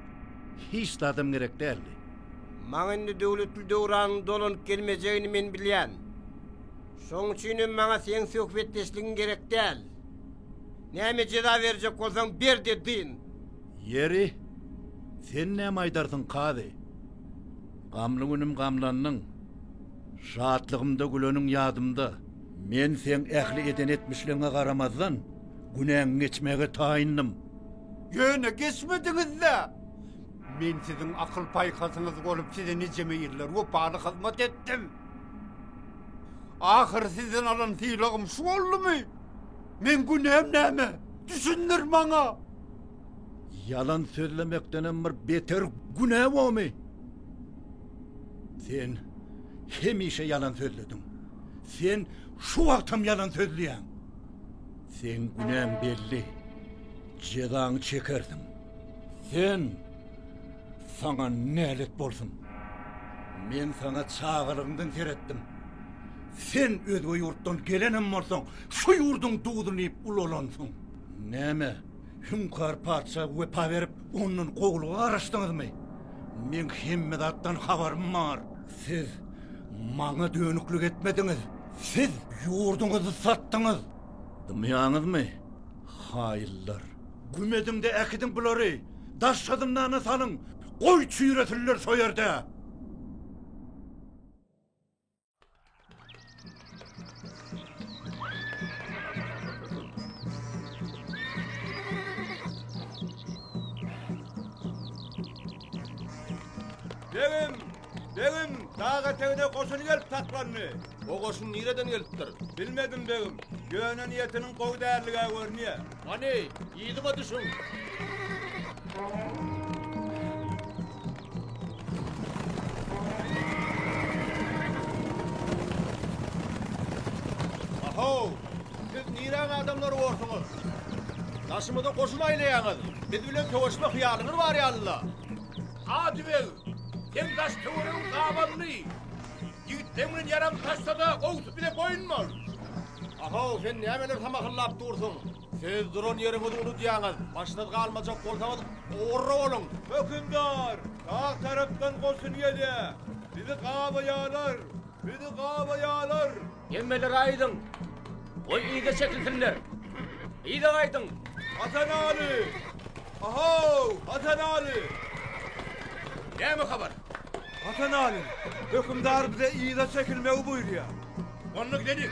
hiç zadam gerek däldi. Maňa indi Döwletli döwranyň dolanyp gelmejegini men bilýän. Şoň üçin hem maňa seň söhbetdeşligiň gerek däl. Näme jeza berjek bolsaň ber-de dyn. Ýeri, sen näme aýdarsyň, kazy? Gamly günüm gamlandyň, şatlygymda güleniň ýadymda. Men seň ähli eden etmişligiňe garamazdan, günäňi geçmäge taýyndym. Ýöne geçmediňiz-dä! Men siziň akyl-paýhasyňyz bolup, size nijeme ýyllar wepaly hyzmat etdim. Ahyry sizden alan sylagym şu boldumy? Meň günäm näme? Düşündir maňa! Ýalan sözlemekdenem bir beter günä bomy? Sen hemişe ýalan sözlediň. Sen şu wagtam ýalan sözleýäň. Seň günäň belli. Jezaňy çekersiň. Sen Saňa nälet bolsun! Men saňa çagalygyňdan seretdim. Sen özge ýurtdan gelenem bolsaň, şu ýurduň duzuny iýip ulalansyň. Näme, Hüňkar patyşa wepa berip, ondan gowulyga garaşdyňyzmy? Meň hemme zatdan habarym bar. Siz maňa dönüklik etmediňiz. Siz ýurduňyzy satdyňyz. Dymýaňyzmy, haýyllar? Güm ediň-de äkidiň bulary, daşky zyndana salyň, goý çüýresinler şo ýerde! Begim, Begim, dag etegine goşun gelip saklandy. O goşun nireden gelipdir? Bilmedim, begim. Ýöne niýetiniň gowy däldigä görünýär. Hany, yzyma düşüň! Ahaw! Siz niräň adamlary borsuňyz? Daşymyza goşun aýlaýaňyz. Biz bilen söweşme hyýalyňyz bar ýaly-la. Adybeg, sen daş-töweregiň gabanly. Ýigitleň bilen ýaram taşsa-da, gowusy bize boýun bol. Ahow, sen nämeler samahyllap dursuň? Siz duran ýeriňizi unudýaňyz. Başsyz galmajak bolsaňyz, ugurly boluň! Hökümdar, sag tarapdan goşun gelýär. Bizi gabaýarlar! Bizi gabaýarlar! Hemmeler aýdyň! Goý yza çekilsinler! Yza gaýdyň! Hasan Aly! Ahow, Hasan Aly! Näme habar? Hasan Aly, hökümdar bize yza çekilmegi buýurýar. Onda gideliň!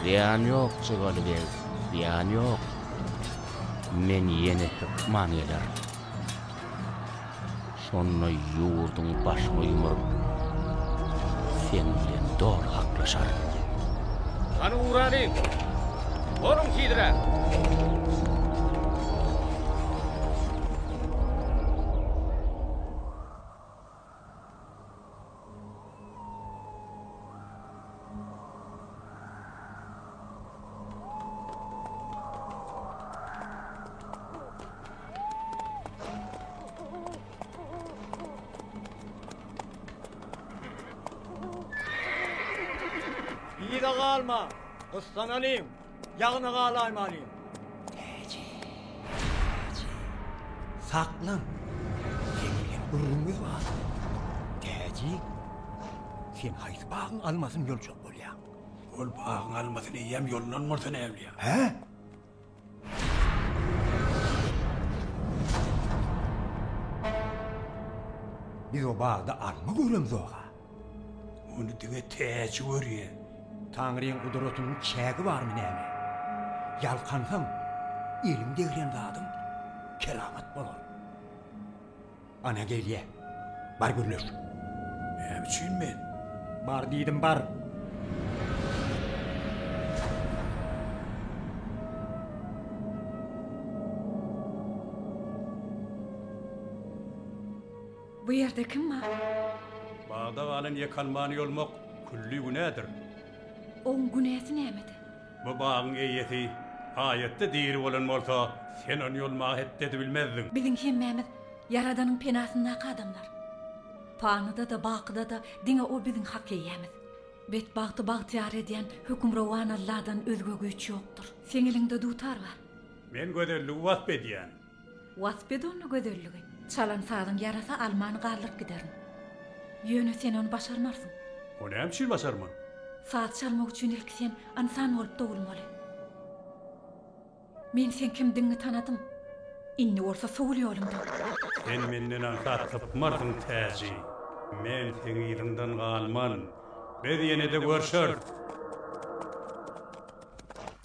Zyýan ýok, Çygaly beg, zyýan ýok. Men ýene hökman gelerin. Şonda ýurduň başyňa ýumuryp, sen bilen doly haklaşaryn. Hany uralyň! Boluň tizräk! Yza galma, gyssanalym, Ýagna galaýmalyn. Täji. Täji. Saklan. Seňem gürrüňimiz bar. Täji. Sen haýsy bagyň almasyny ýoljak bolýaň? Ol bagyň almasyny eýýäm ýollan bolsa näwlýa? Hä? Biz o bagda alma göremzoga. Ony diňe täji görýär. Taňryň gudratynyň çägi barmy näme? Ýalkansaň, eliň degren zadyň keramat bolar. Ana gelýär. Bar gürleş. Näme üçin men? Bar diýdim, bar! Bu ýerde kim bar? Bagda galan ýek almany ýolmak külli günädir. Oň günäsi nämede? Bu bagyň eýesi haýatda diri bolan bolsa, sen ony ýolmaga hetdedi bilmezdiň. Biziň hemmämiz Ýaradanyň penasyndaky adamlar. Panyda-da, bakyda-da diňe O biziň hak eýämiz. Betbagty bagtyýar edýän Hökmürowan Alladan özge güýç ýokdur. Seň eliňde dutar bar. Men gözelligi wasp edýän. Wasp et onda gözelligi. Çalan sazyň ýarasa alman galdyryp giderin. Ýöne sen ony başarmarsyň. O näme üçin başarman? Saz çalmak üçin ilki sen ynsan bolup dogulmaly. Men seň kimdigiňi tanadym. Indi bolsa sowul ýolumdan. Sen menden aňsat sypmarsyň täji. Men seň yzyňdan galman. Biz ýene-de görşeris.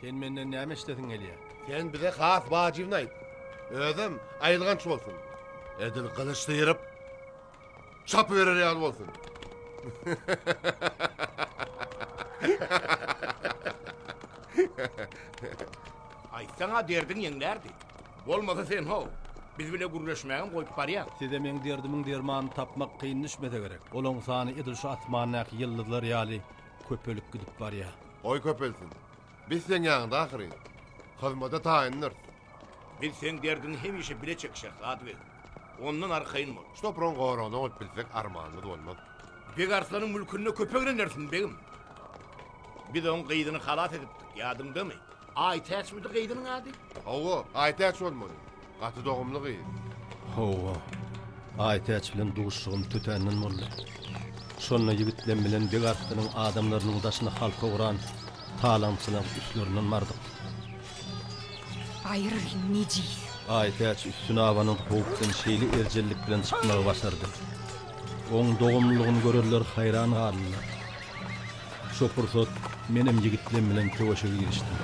Sen menden näme eşidesiň gelýär? Sen bize has wajybyny aýt. Özem aýylganç bolsun. Edil gylyç syryp, çapyberer ýaly bolsun. Aýtsaň-a derdiň ýeňlärdi. Bolmasa sen how, biz bile gürleşmägem goýup barýaň. Size meň derdimiň dermanyny tapmak kyn düşmese gerek. Olaň sany edil şu asmandaky ýyldyzlar ýaly Köpelip gidip barýar. Goý köpelsin. Biz seň ýanyňda ahyryn. Hyzmada taýyndyrs. Biz seň derdiňi hemişe bile çek, şehzad beg. Ondan arkaýyn bol. Şu topragyň goragyny alyp bilsek armanymyz bolmaz. Beg Arslanyň mülkünde köpek renersin, begim. Biz oň gyzyny halas edipdik, ýadyňdamy? Aýtäçmidi gyzynyň ady? Hawa, Aýtäç bolmaly. Gaty dogumly gyz. Hawa. Aýtäç bilen duşuşygym tötänden boldy. Şonda ýigitlem bilen beg artynyň adamlarynyň daşyna halka guran talaňçylaň üstlerinden bardyk. Aýrylyň nejis. Aýtäç üstüne abanyň howpdan şeýle erjellik bilen çykmagy başardy. Oň dogumlylygyny görerler haýran galdylar. Şo pursat menem ýigitlem bilen söweşe girişdim.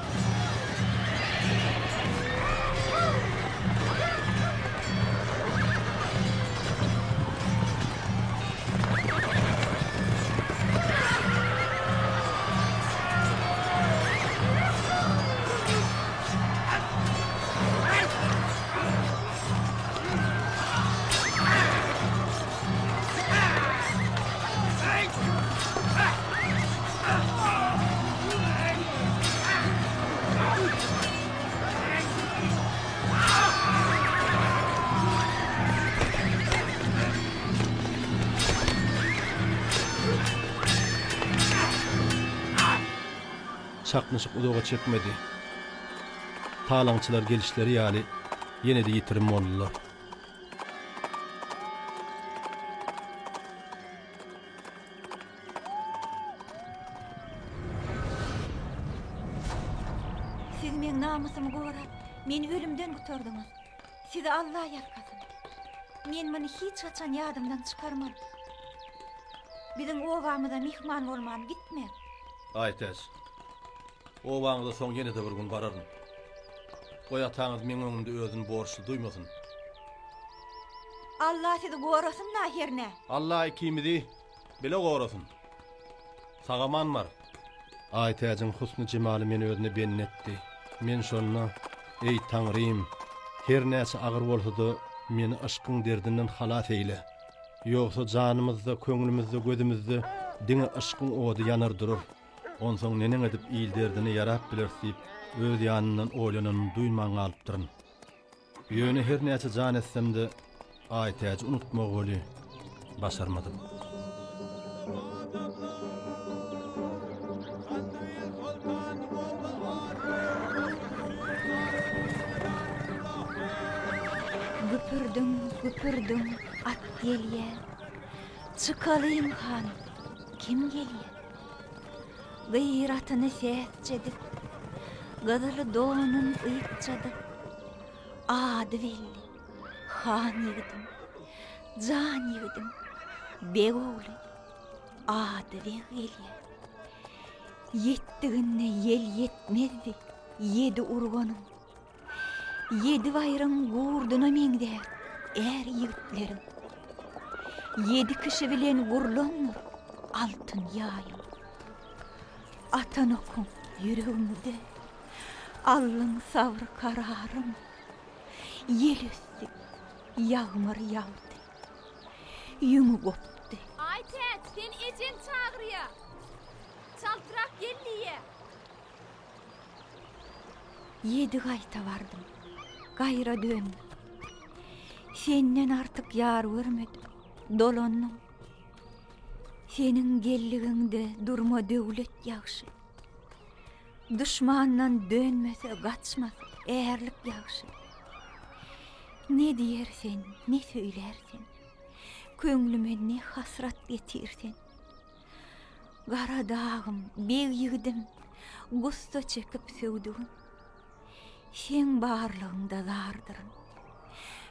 Çaknyşyk uzaga çekmedi. Talaňçylar gelişleri ýaly ýene-de ýitirim boldular. Siz meň namysymy gorap, meni ölümden gutardyňyz. Sizi Alla ýalkasyn. Men muny hiç haçan ýadymdan çykarman. Biziň obamyza myhman bolman gitme. Aýtaş. Obaňyza soň ýene-de bir gün bararyn. Goý, ataňyz meň öňümde özüni borçly duýmasyn. Alla sizi gorasyn-la hernä. Alla ikimizi bile gorasyn. Sag-aman bar. Aýtäjiň husny-jemaly meni özüne bendi etdi. Men şonda, Eý, Taňrym, her näçe agyr bolsa-da, meni yşkyň derdinden halas eýle. Ýogsa janymyzda, köňlümizde, gözümizde diňe yşkyň ody ýanar durar. Onsoň neneň edip il derdine ýarap bileris diýip, öz ýanymdan oýlananymy duýman galypdyryn. Ýöne her näçe jan etsem-de, Aýtäji unutmagy weli, başarmadym. Güpürdiň, güpürdiň, at gelýär. Çykalyň han, kim gelýär? Gyratyny sesçe dik, Gyzyl donun ýykja dyk, Ady belli, han ýigidim, Jan ýigidim, beg ogly, Ady beg gelýär. Ýetdiginde ýel ýetmezdi Ýedi urganyň, Ýedi baýryň gurduna meňzär är-ýigitleriň. Ýedi kişi bilen gurlandyr altyn ýaýyň. Atan okuň ýüregimize, aldyň sabyr-kararyň. Ýel ösdi, ýagmyr ýagdy, ýüňi gopdy. Aý, täç, seni ejeň çagyrýar. Çaltrak gel diýýär. Ýedi gaýta bardym, gaýra döndüm. Senden artyk ýar görmedim, dolandym. Seniň geldigiňde durma döwlet ýagşy. Duşmandan dönmese, gaçmasa, ärlik ýagşy. Ne diýer sen, ne söýler sen, köňlüme ne hasrat getir sen. Gara dagym, beg ýigidim, gussa çekip söwdügim. Seň barlygyňda zardyryn.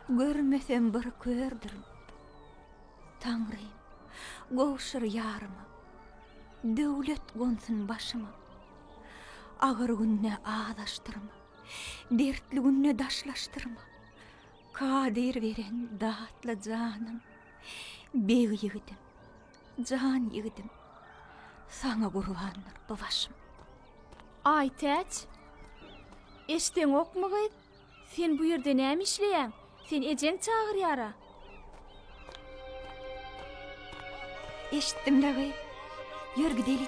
Görmesem bir kördürün. Taňrym, gowşur ýaryma. Döwlet gonsun başyma. Agyr günde azaşdyrma. Dertli günde daşlaşdyrma. Kadyr beren datly janym, beg ýigidim. Jan ýigidim, saňa gurbandyr bu başym. Aýtäç! Eşdeňokmy gyz? Sen bu ýerde näme işleýäň? Seni ejeň çagyrýar-a. Eşitdim-le gyz. Ýör gideli.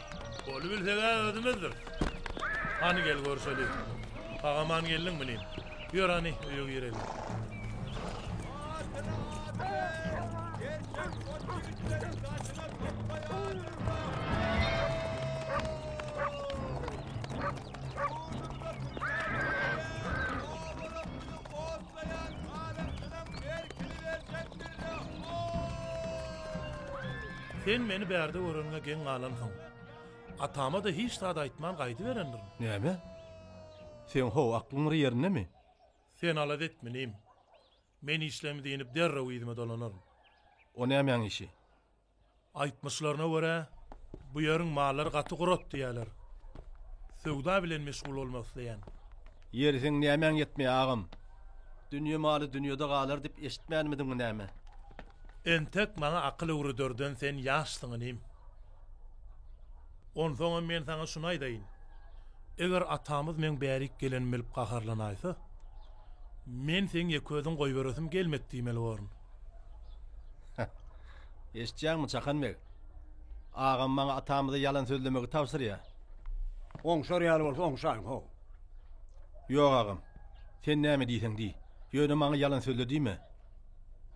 Goly bilseg-ä özümizdir. Hany gel görşeli. Agaman geldiň bilin. Ýör hany öýe gireli. Saklaýan Halysynyň erkini berjek birre ho! Sen meni bärde göreniňe geň galansyň. Atama-da hiç zat aýtman gaýdyberendirin. Näme? Seň ho aklyň ýerindemi? Sen alada etme inim. Men işlemi diýnip derrew yzyma dolanaryn. O nämäň işi? Aýtmyşlaryna görä, bu ýeriň mallary gaty gurat diýýärler. Söwda bilen meşgul bolmak isleýän. Ýeri seň nämäň ýetmeýär, agam? Dünýe maly dünýede galar diýip eşitmänmidiň näme? Entek maňa akyl öwrederden sen ýaşsyň inim. Onsoňam men saňa şuny aýdaýyn. Eger atamyz meň bärik gelenimi bilip gaharlanaýsa, men seň ýeközüň goýberesim gelmek diýmeli borun. Eşitýäňmi, Çakan beg? Agam maňa atamyza ýalan sözlemegi tabşyrýar. Oňşar ýaly bolsa oňşaýyn, how! Ýok, agam. Sen näme diýseň diý. Ýöne maňa ýalan sözle diýme.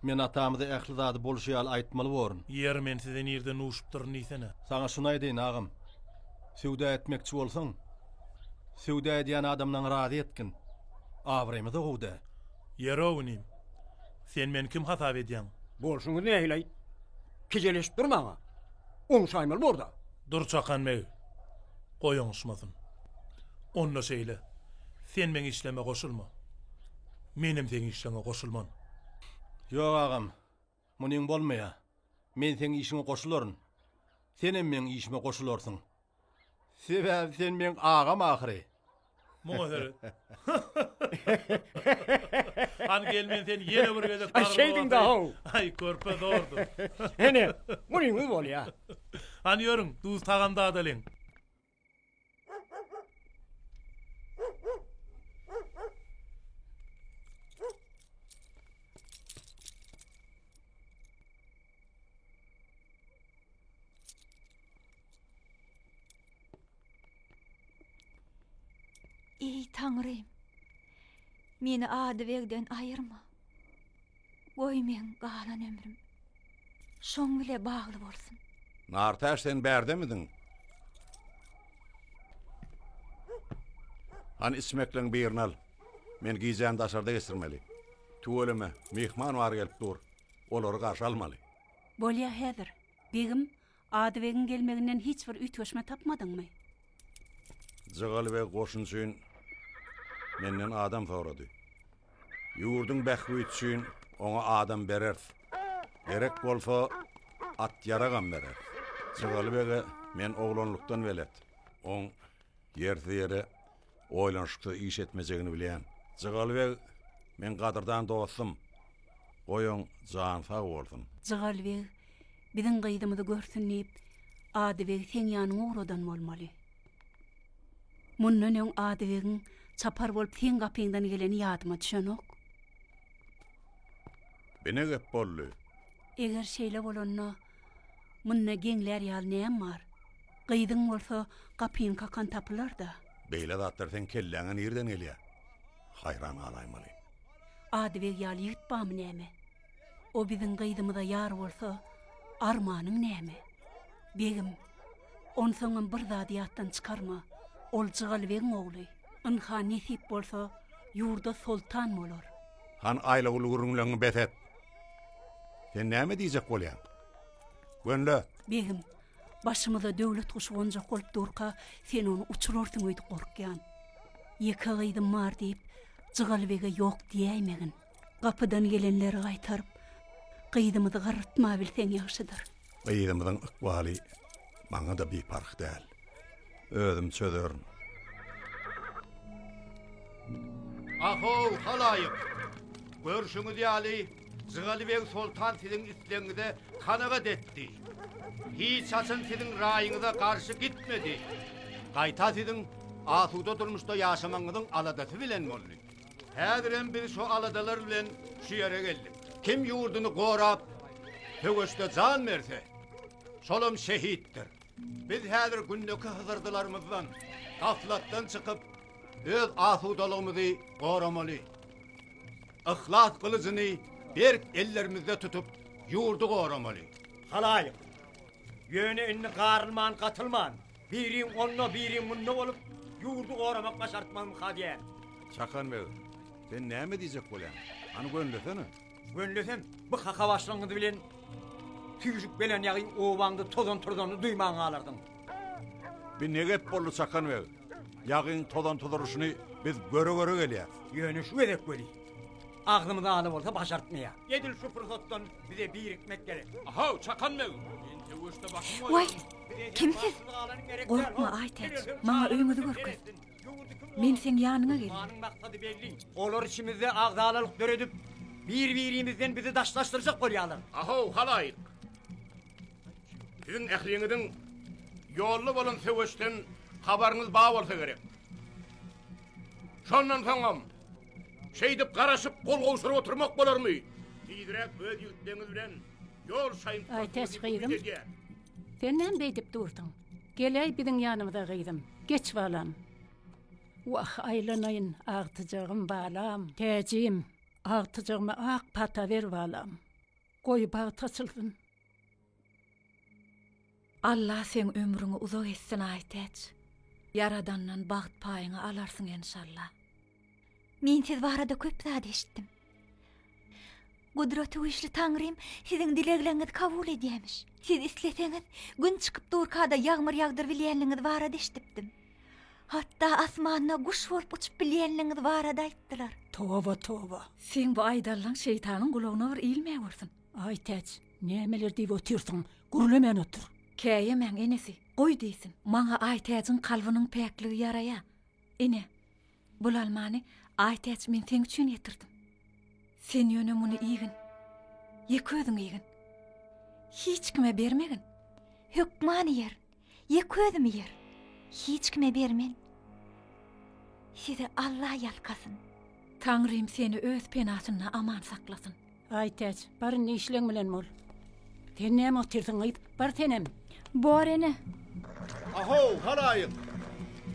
Men atamyza ähli zady bolşy ýaly aýtmaly borun. Ýeri, men size nirde nuşupdyryn diýsene. Saňa şuny aýdaýyn, agam. Söwda etmekçi bolsaň, söwda edýän adamlaňy razy etgin. Abraýymyz-a gowy däl. Ýör-ow inim. Sen meni kim hasap edýäň? Bolşuňyz nähili-aý? Kejeleşip durmaň-a. Oňşaýmaly bor-da. Dur Çakan beg. Goý oňuşmasyn. Onda şeýle, sen meň işleme goşulma. Menem seň işleňe goşulman. Ýok agam. Munyň bolmaýa, men seň işiňe goşularyn. Senem meň işime goşularsyň. Sebäbi sen meň agam ahyry. Muňa seret. Hany gel men seni ýene bir gezek gargylap Şeýdiň da-how. Aý, körpe zordur. Ene, munyňyz bolýa. Hany ýörüň, duz tagam dadalyň. Eý, Taňrym, meni Adybegden aýyrma. Goý meň galan ömrüm şoň bile bagly bolsun. Nartäş sen bärdemidiň? Hany içmekleň birini al. Men gijäni daşarda geçirmeli. Tüweleme, myhman bar gelip dur. Olary garşy almaly. Bolýa häzir, begim Adybegiň gelmeginden hiç bir üýtgeşme tapmadyňmy? Jygaly beg goşun üçin menden adam sorady. Ýurduň bähbüdi üçin oňa adam bereris. Gerek bolsa, at-ýaragam bereris. Jygaly bege men oglanlykdan belet. Oň ýersiz-ýere oýlanyşyksyz iş etmejegini bilýän. Jygaly beg meň gadyrdan dostum. Goýaň, jany sag bolsun. Jygaly beg Biziň gyzymyzy görsün diýip, Adybegi seň ýanyňa ugradan bolmaly. Mundan öň Adybegiň çapar bolup seň gapyňdan geleni ýadyma düşenok. Bu ne gep boldy? Eger şeýle bolanda, munda geňlär ýaly näme bar? Gyzyň bolsa gapyny kakan tapylar-da. Beýle zatlar seň kelläňe nireden gelýär? Haýran galaýmaly. Adybeg ýaly ýigit barmy näme? O biziň gyzymyza ýar bolsa, armanyň näme? Begim, onsoňam bir zady ýatdan çykarma, ol Jygalbegiň ogly, ynha, nesip bolsa, ýurda soltan bolar. Han Aýlawul gürrüňleňňi bes et. Sen näme diýjek bolýaň? Gönle! Begim, başymyza döwlet guşy gonjak bolup durka, sen ony uçurarsyň öýdüp gorkýan. Ýeke gyzym bar diýip, Jygalbege ýok diýäýmegin. Gapydan gelenleri gaýtaryp, gyzymyzy garrytmabilseň ýagşydyr. Gyzymyzyň ykbaly maňa-da biparh däl. Özüm çözerin. Ah-ow, halaýyk! Görşüňiz ýaly, Jygaly beg soltan siziň islegiňize kanagat etdi. Hiç haçan siziň raýyňyza garşy gitmedi. Gaýta siziň asuda durmuşda ýaşamagyňyzyň aladasy bilen boldy. Häzirem biz şo aladalar bilen şu ýere geldik. Kim ýurduny gorap, söweşde jan berse, şolam şehitdir. Biz häzir gündeki hyzyrdylarymyzdan, gaflatdan çykyp, öz asudalygymyzy goramaly. Yhlas gylyjyny berk ellerimizde tutup, ýurdy goramaly. Halaýyk, ýöne indi garylman-gatylman, Biriň onda, biriň munda bolup, ýurdy goramak başartmagym ha diýýän. Çakan beg, sen näme diýjek bolýaň? Hany gönlesene! Gönlesem, bu hakabaşlygyňyz bilen süýşüp gelen ýagyň obaňda tozan-turzanyny duýman galarsyň. Bi ne gep boldy, Çakan beg? Ýagyň tozan-tuzuryşyny biz göre-göre gelýäs. Ýöne şu gezek weli, agzymyz ala bolsa başartmaýar. Edil şu pursatdan bize birikmek gerek. A-haw, Çakan beg, men söweşde başym goýaryn. Waý, Kim siz? Gorkma, Aýtäç, maňa öýüňizi görkez. Men seň ýanyňa gelin. Manyň maksady belli. Olar içimizde agzalalyk döredip, bir-birimizden bizi daşlaşdyrjak bolýarlar. Ahow, halaýyk! Siziň ähliňiziň ýolda bolan söweşden habaryňyz bar bolsa gerek. Şondan soňam şeýdip garaşyp gol gowşuryp oturmak bolarmy? Tizräk öz ýigitleňiz bilen ýol şaýyň. Aýtäç gyzym. Sen näme beýdip dursuň? Geläý biziň ýanymyza gyzym. Geç balam. Wah, aýlanaýyn, agtyjagym, balam, täjim. Agtyjagyma ak pata ber, balam. Goý, bagt açylsyn. Alla seň ömrüňi uzak etsin, Aýtäç. Ýaradandan bagt paýyňy alarsyň enşalla. Men siz barada köp zat eşitdim. Gudratygüýçli Taňrym siziň dilegleriňizi kabul edýämiş. Siz isleseňiz, gün çykyp durkada ýagmyr ýagdyrybilýänligiňiz barada eşidipdim. Hatda asmanda guş bolup uçup bilýänligiňiz barada aýtdylar. Toba, toba! Seň bu aýdanlaň şeýtanyň gulagyna bir ilmäwersin. Aý, Täç, nämeler diýip otyrsyň? Gürlemän otur! Käýemäň, enesi, goý diýsin. Maňa Aýtäjiň kalbynyň päkligi ýaraýar. Ine, bul almany, Aýtäç, men seň üçin getirdim. Sen ýöne muny iýgin. Ýeke özüň iýgin. Hiç kime bermegin. Hökman iýer. Ýeke özüm iýer. Hiç kime bermen. Sizi Allah ýalkasyn. Taňrym seni öz penasynda aman saklasyn. Aýtäç, bar indi işleň bilen bol. Sen näme otyrsyň, gyz? Bar senem. Bor, ene. A-how, halaýyk!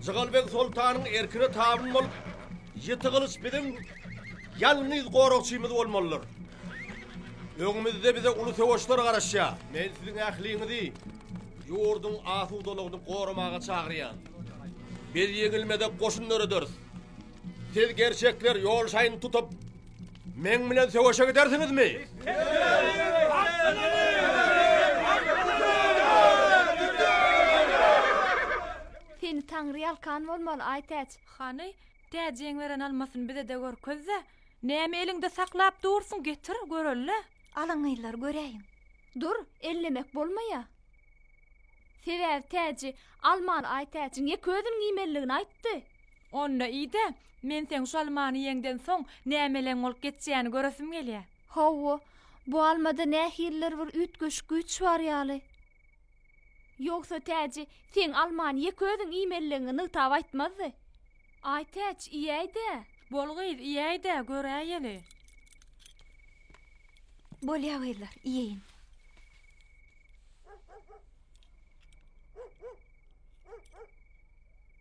Jygalbeg soltanyň erkine tabyn bolup, ýiti gylyç biziň ýalňyz goragçymyz bolmalydyr. Öňümizde bize uly söweşler garaşýar. Men siziň ähliňizi ýurduň asudalygyny goramaga çagyrýan. Biz ýeňilmezek goşun dörederis. Siz gerçekler ýol şaýyny tutup, Meň bilen söweşe gidersiňizmi? Seni Taňry ýalkan bolmaly, aý Täç. Hany, Täjiň beren almasyny bize-de görkez-de. Näme eliňde saklap dursuň, getir, göreli. Alyň gyzlar, göräýiň. Dur, ellemek bolmaýa. Sebäbi Täji almaly, aý Täç. Ýeke özüniň iýmelidigini aýtdy. Onda iý-dä, men seň şu almany iýeňden soň nämeleň bolup geçýäni göresim gelýär. Hawa, bu almada nähilidir bir üýtgeşik güýç bar ýaly. Ýogsa Täji seň almany ýeke özüň iýmelidigiňi nygtap aýtmazdy. Aý, Täç, iýäý-dä! Bol gyz, iýäý-dä, göräýeli. Bolýa gyzlar, iýeýin.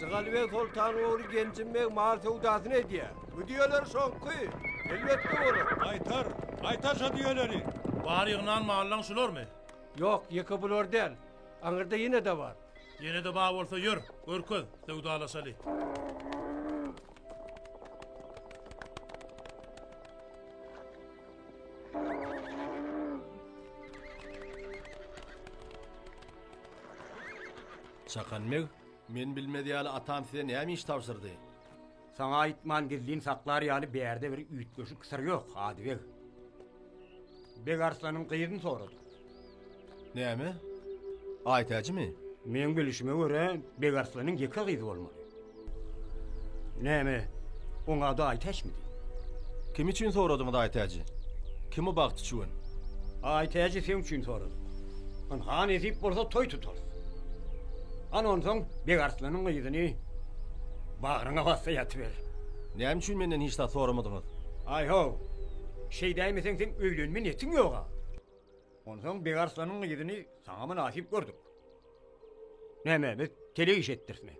Jygalybeg soltanyň ogly Genjim beg mal söwdasyny edýär. Bu düýeler şoňky. Elbetde bolar. Gaýtar, gaýtar şo düýeleri. Bar ýygnan mallaň şularmy? Ýok, ýeke bular däl. Aňyrda ýene-de bar. Ýene-de bar bolsa ýör, görkez, söwdalaşaly. Çakan meg, men bilmez ýaly atam size näme iş tabşyrdy? Saňa aýtman gizlin saklar ýaly bärde bir üýtgeşik syr ýok, Adybeg. Beg Arslanyň gyzyny sorady. Näme? Aýtäçmi? Meň bilişime görä, Beg Arslanyň ýeke gyzy bolmaly. Näme, oň ady Aýtäçmidi? Kim üçin soradyňyz, Aýtäçi? Kimi bagt üçin? Aýtäçi seň üçin soradym. Ynha, nesip bolsa toý tutarys. Ana onsoň Beg Arslanyň gyzyny bagryňa bassa ýatyber. Näme üçin menden hiç zat soramadyňyz? Aý-how! Şeýdäýmeseň seň öýlenme netiň ýog-a. Onsoň Begarslanyň gyzyny saňa mynasyp gördük. Näme, biz telek iş etdirismi?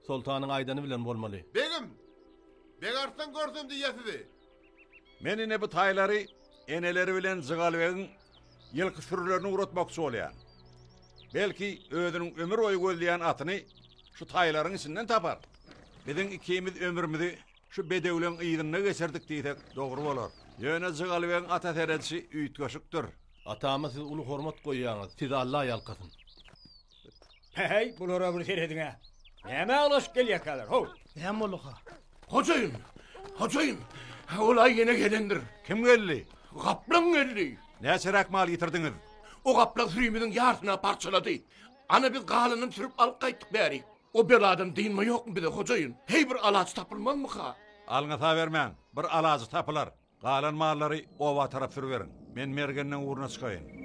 Soltanyň aýdany bilen bolmaly. Begim! Begarslan görsün diýýä sizi! Men ine bu taýlary eneleri bilen Jygalbegiň ýylky sürülerini ugratmakçy bolýan. Belki özüniň ömür boýy gözleýän atyny şu taýlaryň içinden tapar. Biziň ikimiz ömrümizi şu bedewleň yzynda geçirdik diýsek dogry bolar. Ýöne Jygalbegiň ata seredişi üýtgeşikdir. Atama siz uly hormat goýýaňyz, sizi Alla ýalkasyn. Heý, bulara bir serediň-ä. Näme aglaşyp gelýärkäler, how? Näme bolduka? Hojaýyn! Hojaýyn! Olaý ýene gelendir. Kim geldi? Gaplaň geldi. Näçeräk mal getirdiňiz? O gapla sürimiziň ýarsyny parçalady. Ana biz galanyny sürüp alyp gaýtdyk bärik. O beladan dynma ýokmy bize, hojaýyn? Heý, bir alaç tapylmazmyka? Alňasa bermäň, bir alajy tapylar. Galan mallary oba tarap sürüberiň. Men Mergenleň ugruna çykaýyn.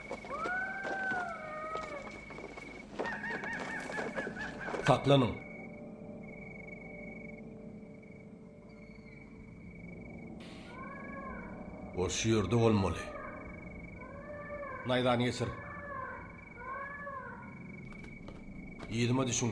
Saklanyň! Ol şu ýerde bolmaly. Naýzany geçir. Yzyma düşüň.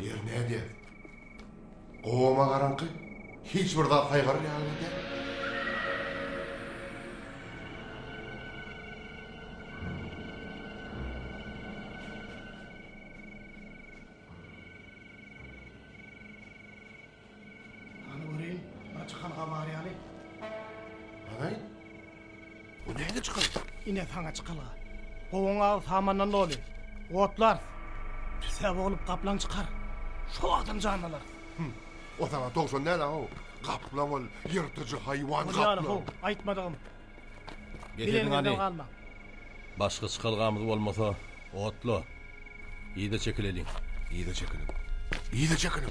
Ýer nädýär? Gowama garaňky, hiç bir zat saýgaryr ýaly däl. Hany göreýin, bir çykalga bar ýaly. Hany? Bu nädip çykalga? Ine saňa çykalga. Gowaň agy samandan doly. Otlarys. Tüssä boglup gaplaň çykar. Şo wagtam jan alarys. Hum. O saňa towşan däl-ä-how. Gaplaň ol, ýyrtyjy haýwan gaplaň. Bolýar-how, aýtmadygym. Getirdiň hany. Başga çykalgamyz bolmasa, otla. Yza çekileliň. Yza çekiliň. Yza çekiliň.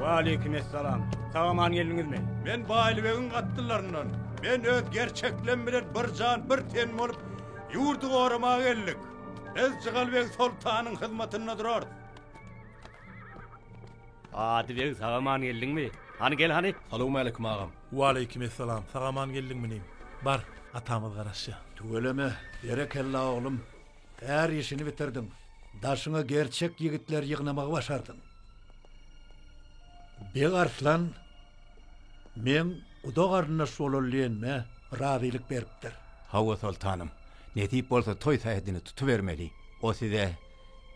Waleýkim essalam. Sag-aman geldiňizmi? Men Baýlybegiň atlylaryndan. Men öz gerçeklem bilen bir jan, bir ten bolup, ýurdy goramaga geldik. Biz Jygalbeg soltanyň hyzmatynda durarys. Ady beg, sag-aman geldiňmi? Hany, gel hany! Salowmaleýkim, agam. Waleýkim essalam. Sag-aman geldiňmi, inim? Bar, atamyz garaşýar. Tüweleme, berekella, oglum! Her işini bitirdiň. Daşyňa gerçek ýigitleri ýygnamagy başardyň. Beg Arslan meň guda-garyndaş bolaly diýenime razylyk beripdir. Hawa, soltanym. Nesip bolsa toý sähedini tutubermeli. O size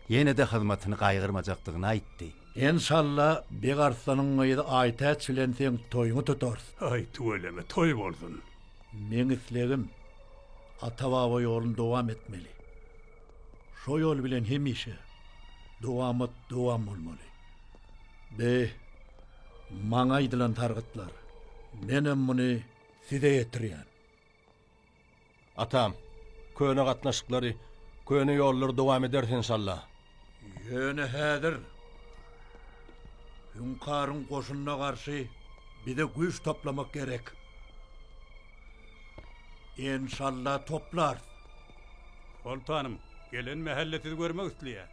ýene-de hyzmatyny gaýgyrmajakdygyny aýtdy. Enşalla, Beg Arslanyň gyzy Aýtäç bilen seň toýuňy tutarys. Aý, tüweleme, toý bolsun! Meň islegim, ata-baba ýoluny dowam etmeli. Şo ýol bilen hemişe dowamat dowam bolmaly. Be, maňa aýdylan sargytlar. Menem muny size ýetirýän. Atam, köne gatnaşyklary, köne ýollary dowam ederis enşalla. Ýöne häzir Hüňkaryň goşunyna garşy bize güýç toplamak gerek. Enşalla toplarys. Soltanym, gelen mähelle sizi görmek isleýär.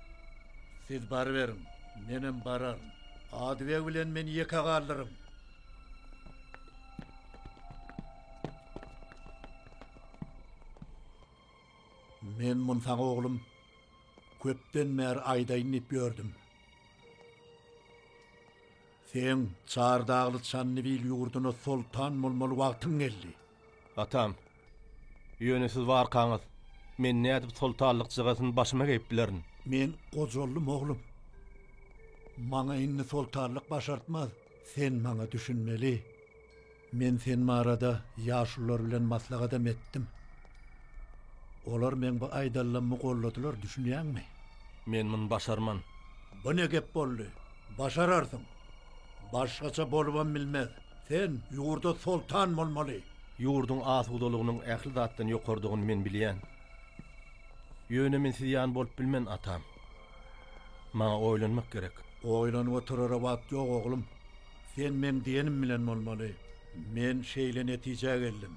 Siz baryberiň, menem bararyn. Adybeg bilen meni ýeke galdyryň. Men munsaň oglum. Köpden bäri aýdaýyn diýip ýördüm. Seň Çardagly Çandybil ýurduna soltan bolmaly wagtyň geldi. Atam, ýöne siz barkaňyz, men nädip soltanlyk jygasyny başyma geýip bilerin? Men gojaldym, oglum. Maňa indi soltanlyk başartmaz. Sen maňa düşünmeli. Men sen barada ýaşulylar bilen maslahatam etdim. Olar meň bu aýdanlammy golladylar, düşünýäňmi? Men muny başarman. Bu ne gep boldy? Başararsyň. Başgaça bolubam bilmez. Sen ýurda soltan bolmaly. Ýurduň asudalygynyň ähli zatdan ýokardygyny men bilýän. Ýöne men siz ýaly bolup bilmen, atam. Maňa oýlanmak gerek. Oýlanyp oturara wagt ýok, oglum. Sen meň diýenim bilen bolmaly. Men şeýle netijä geldim.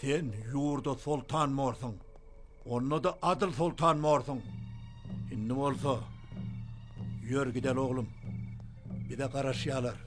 Sen ýurda soltan borsuň. Onda-da adyl soltan borsuň. Indi bolsa, ýör gideli oglum. Bize garaşýarlar.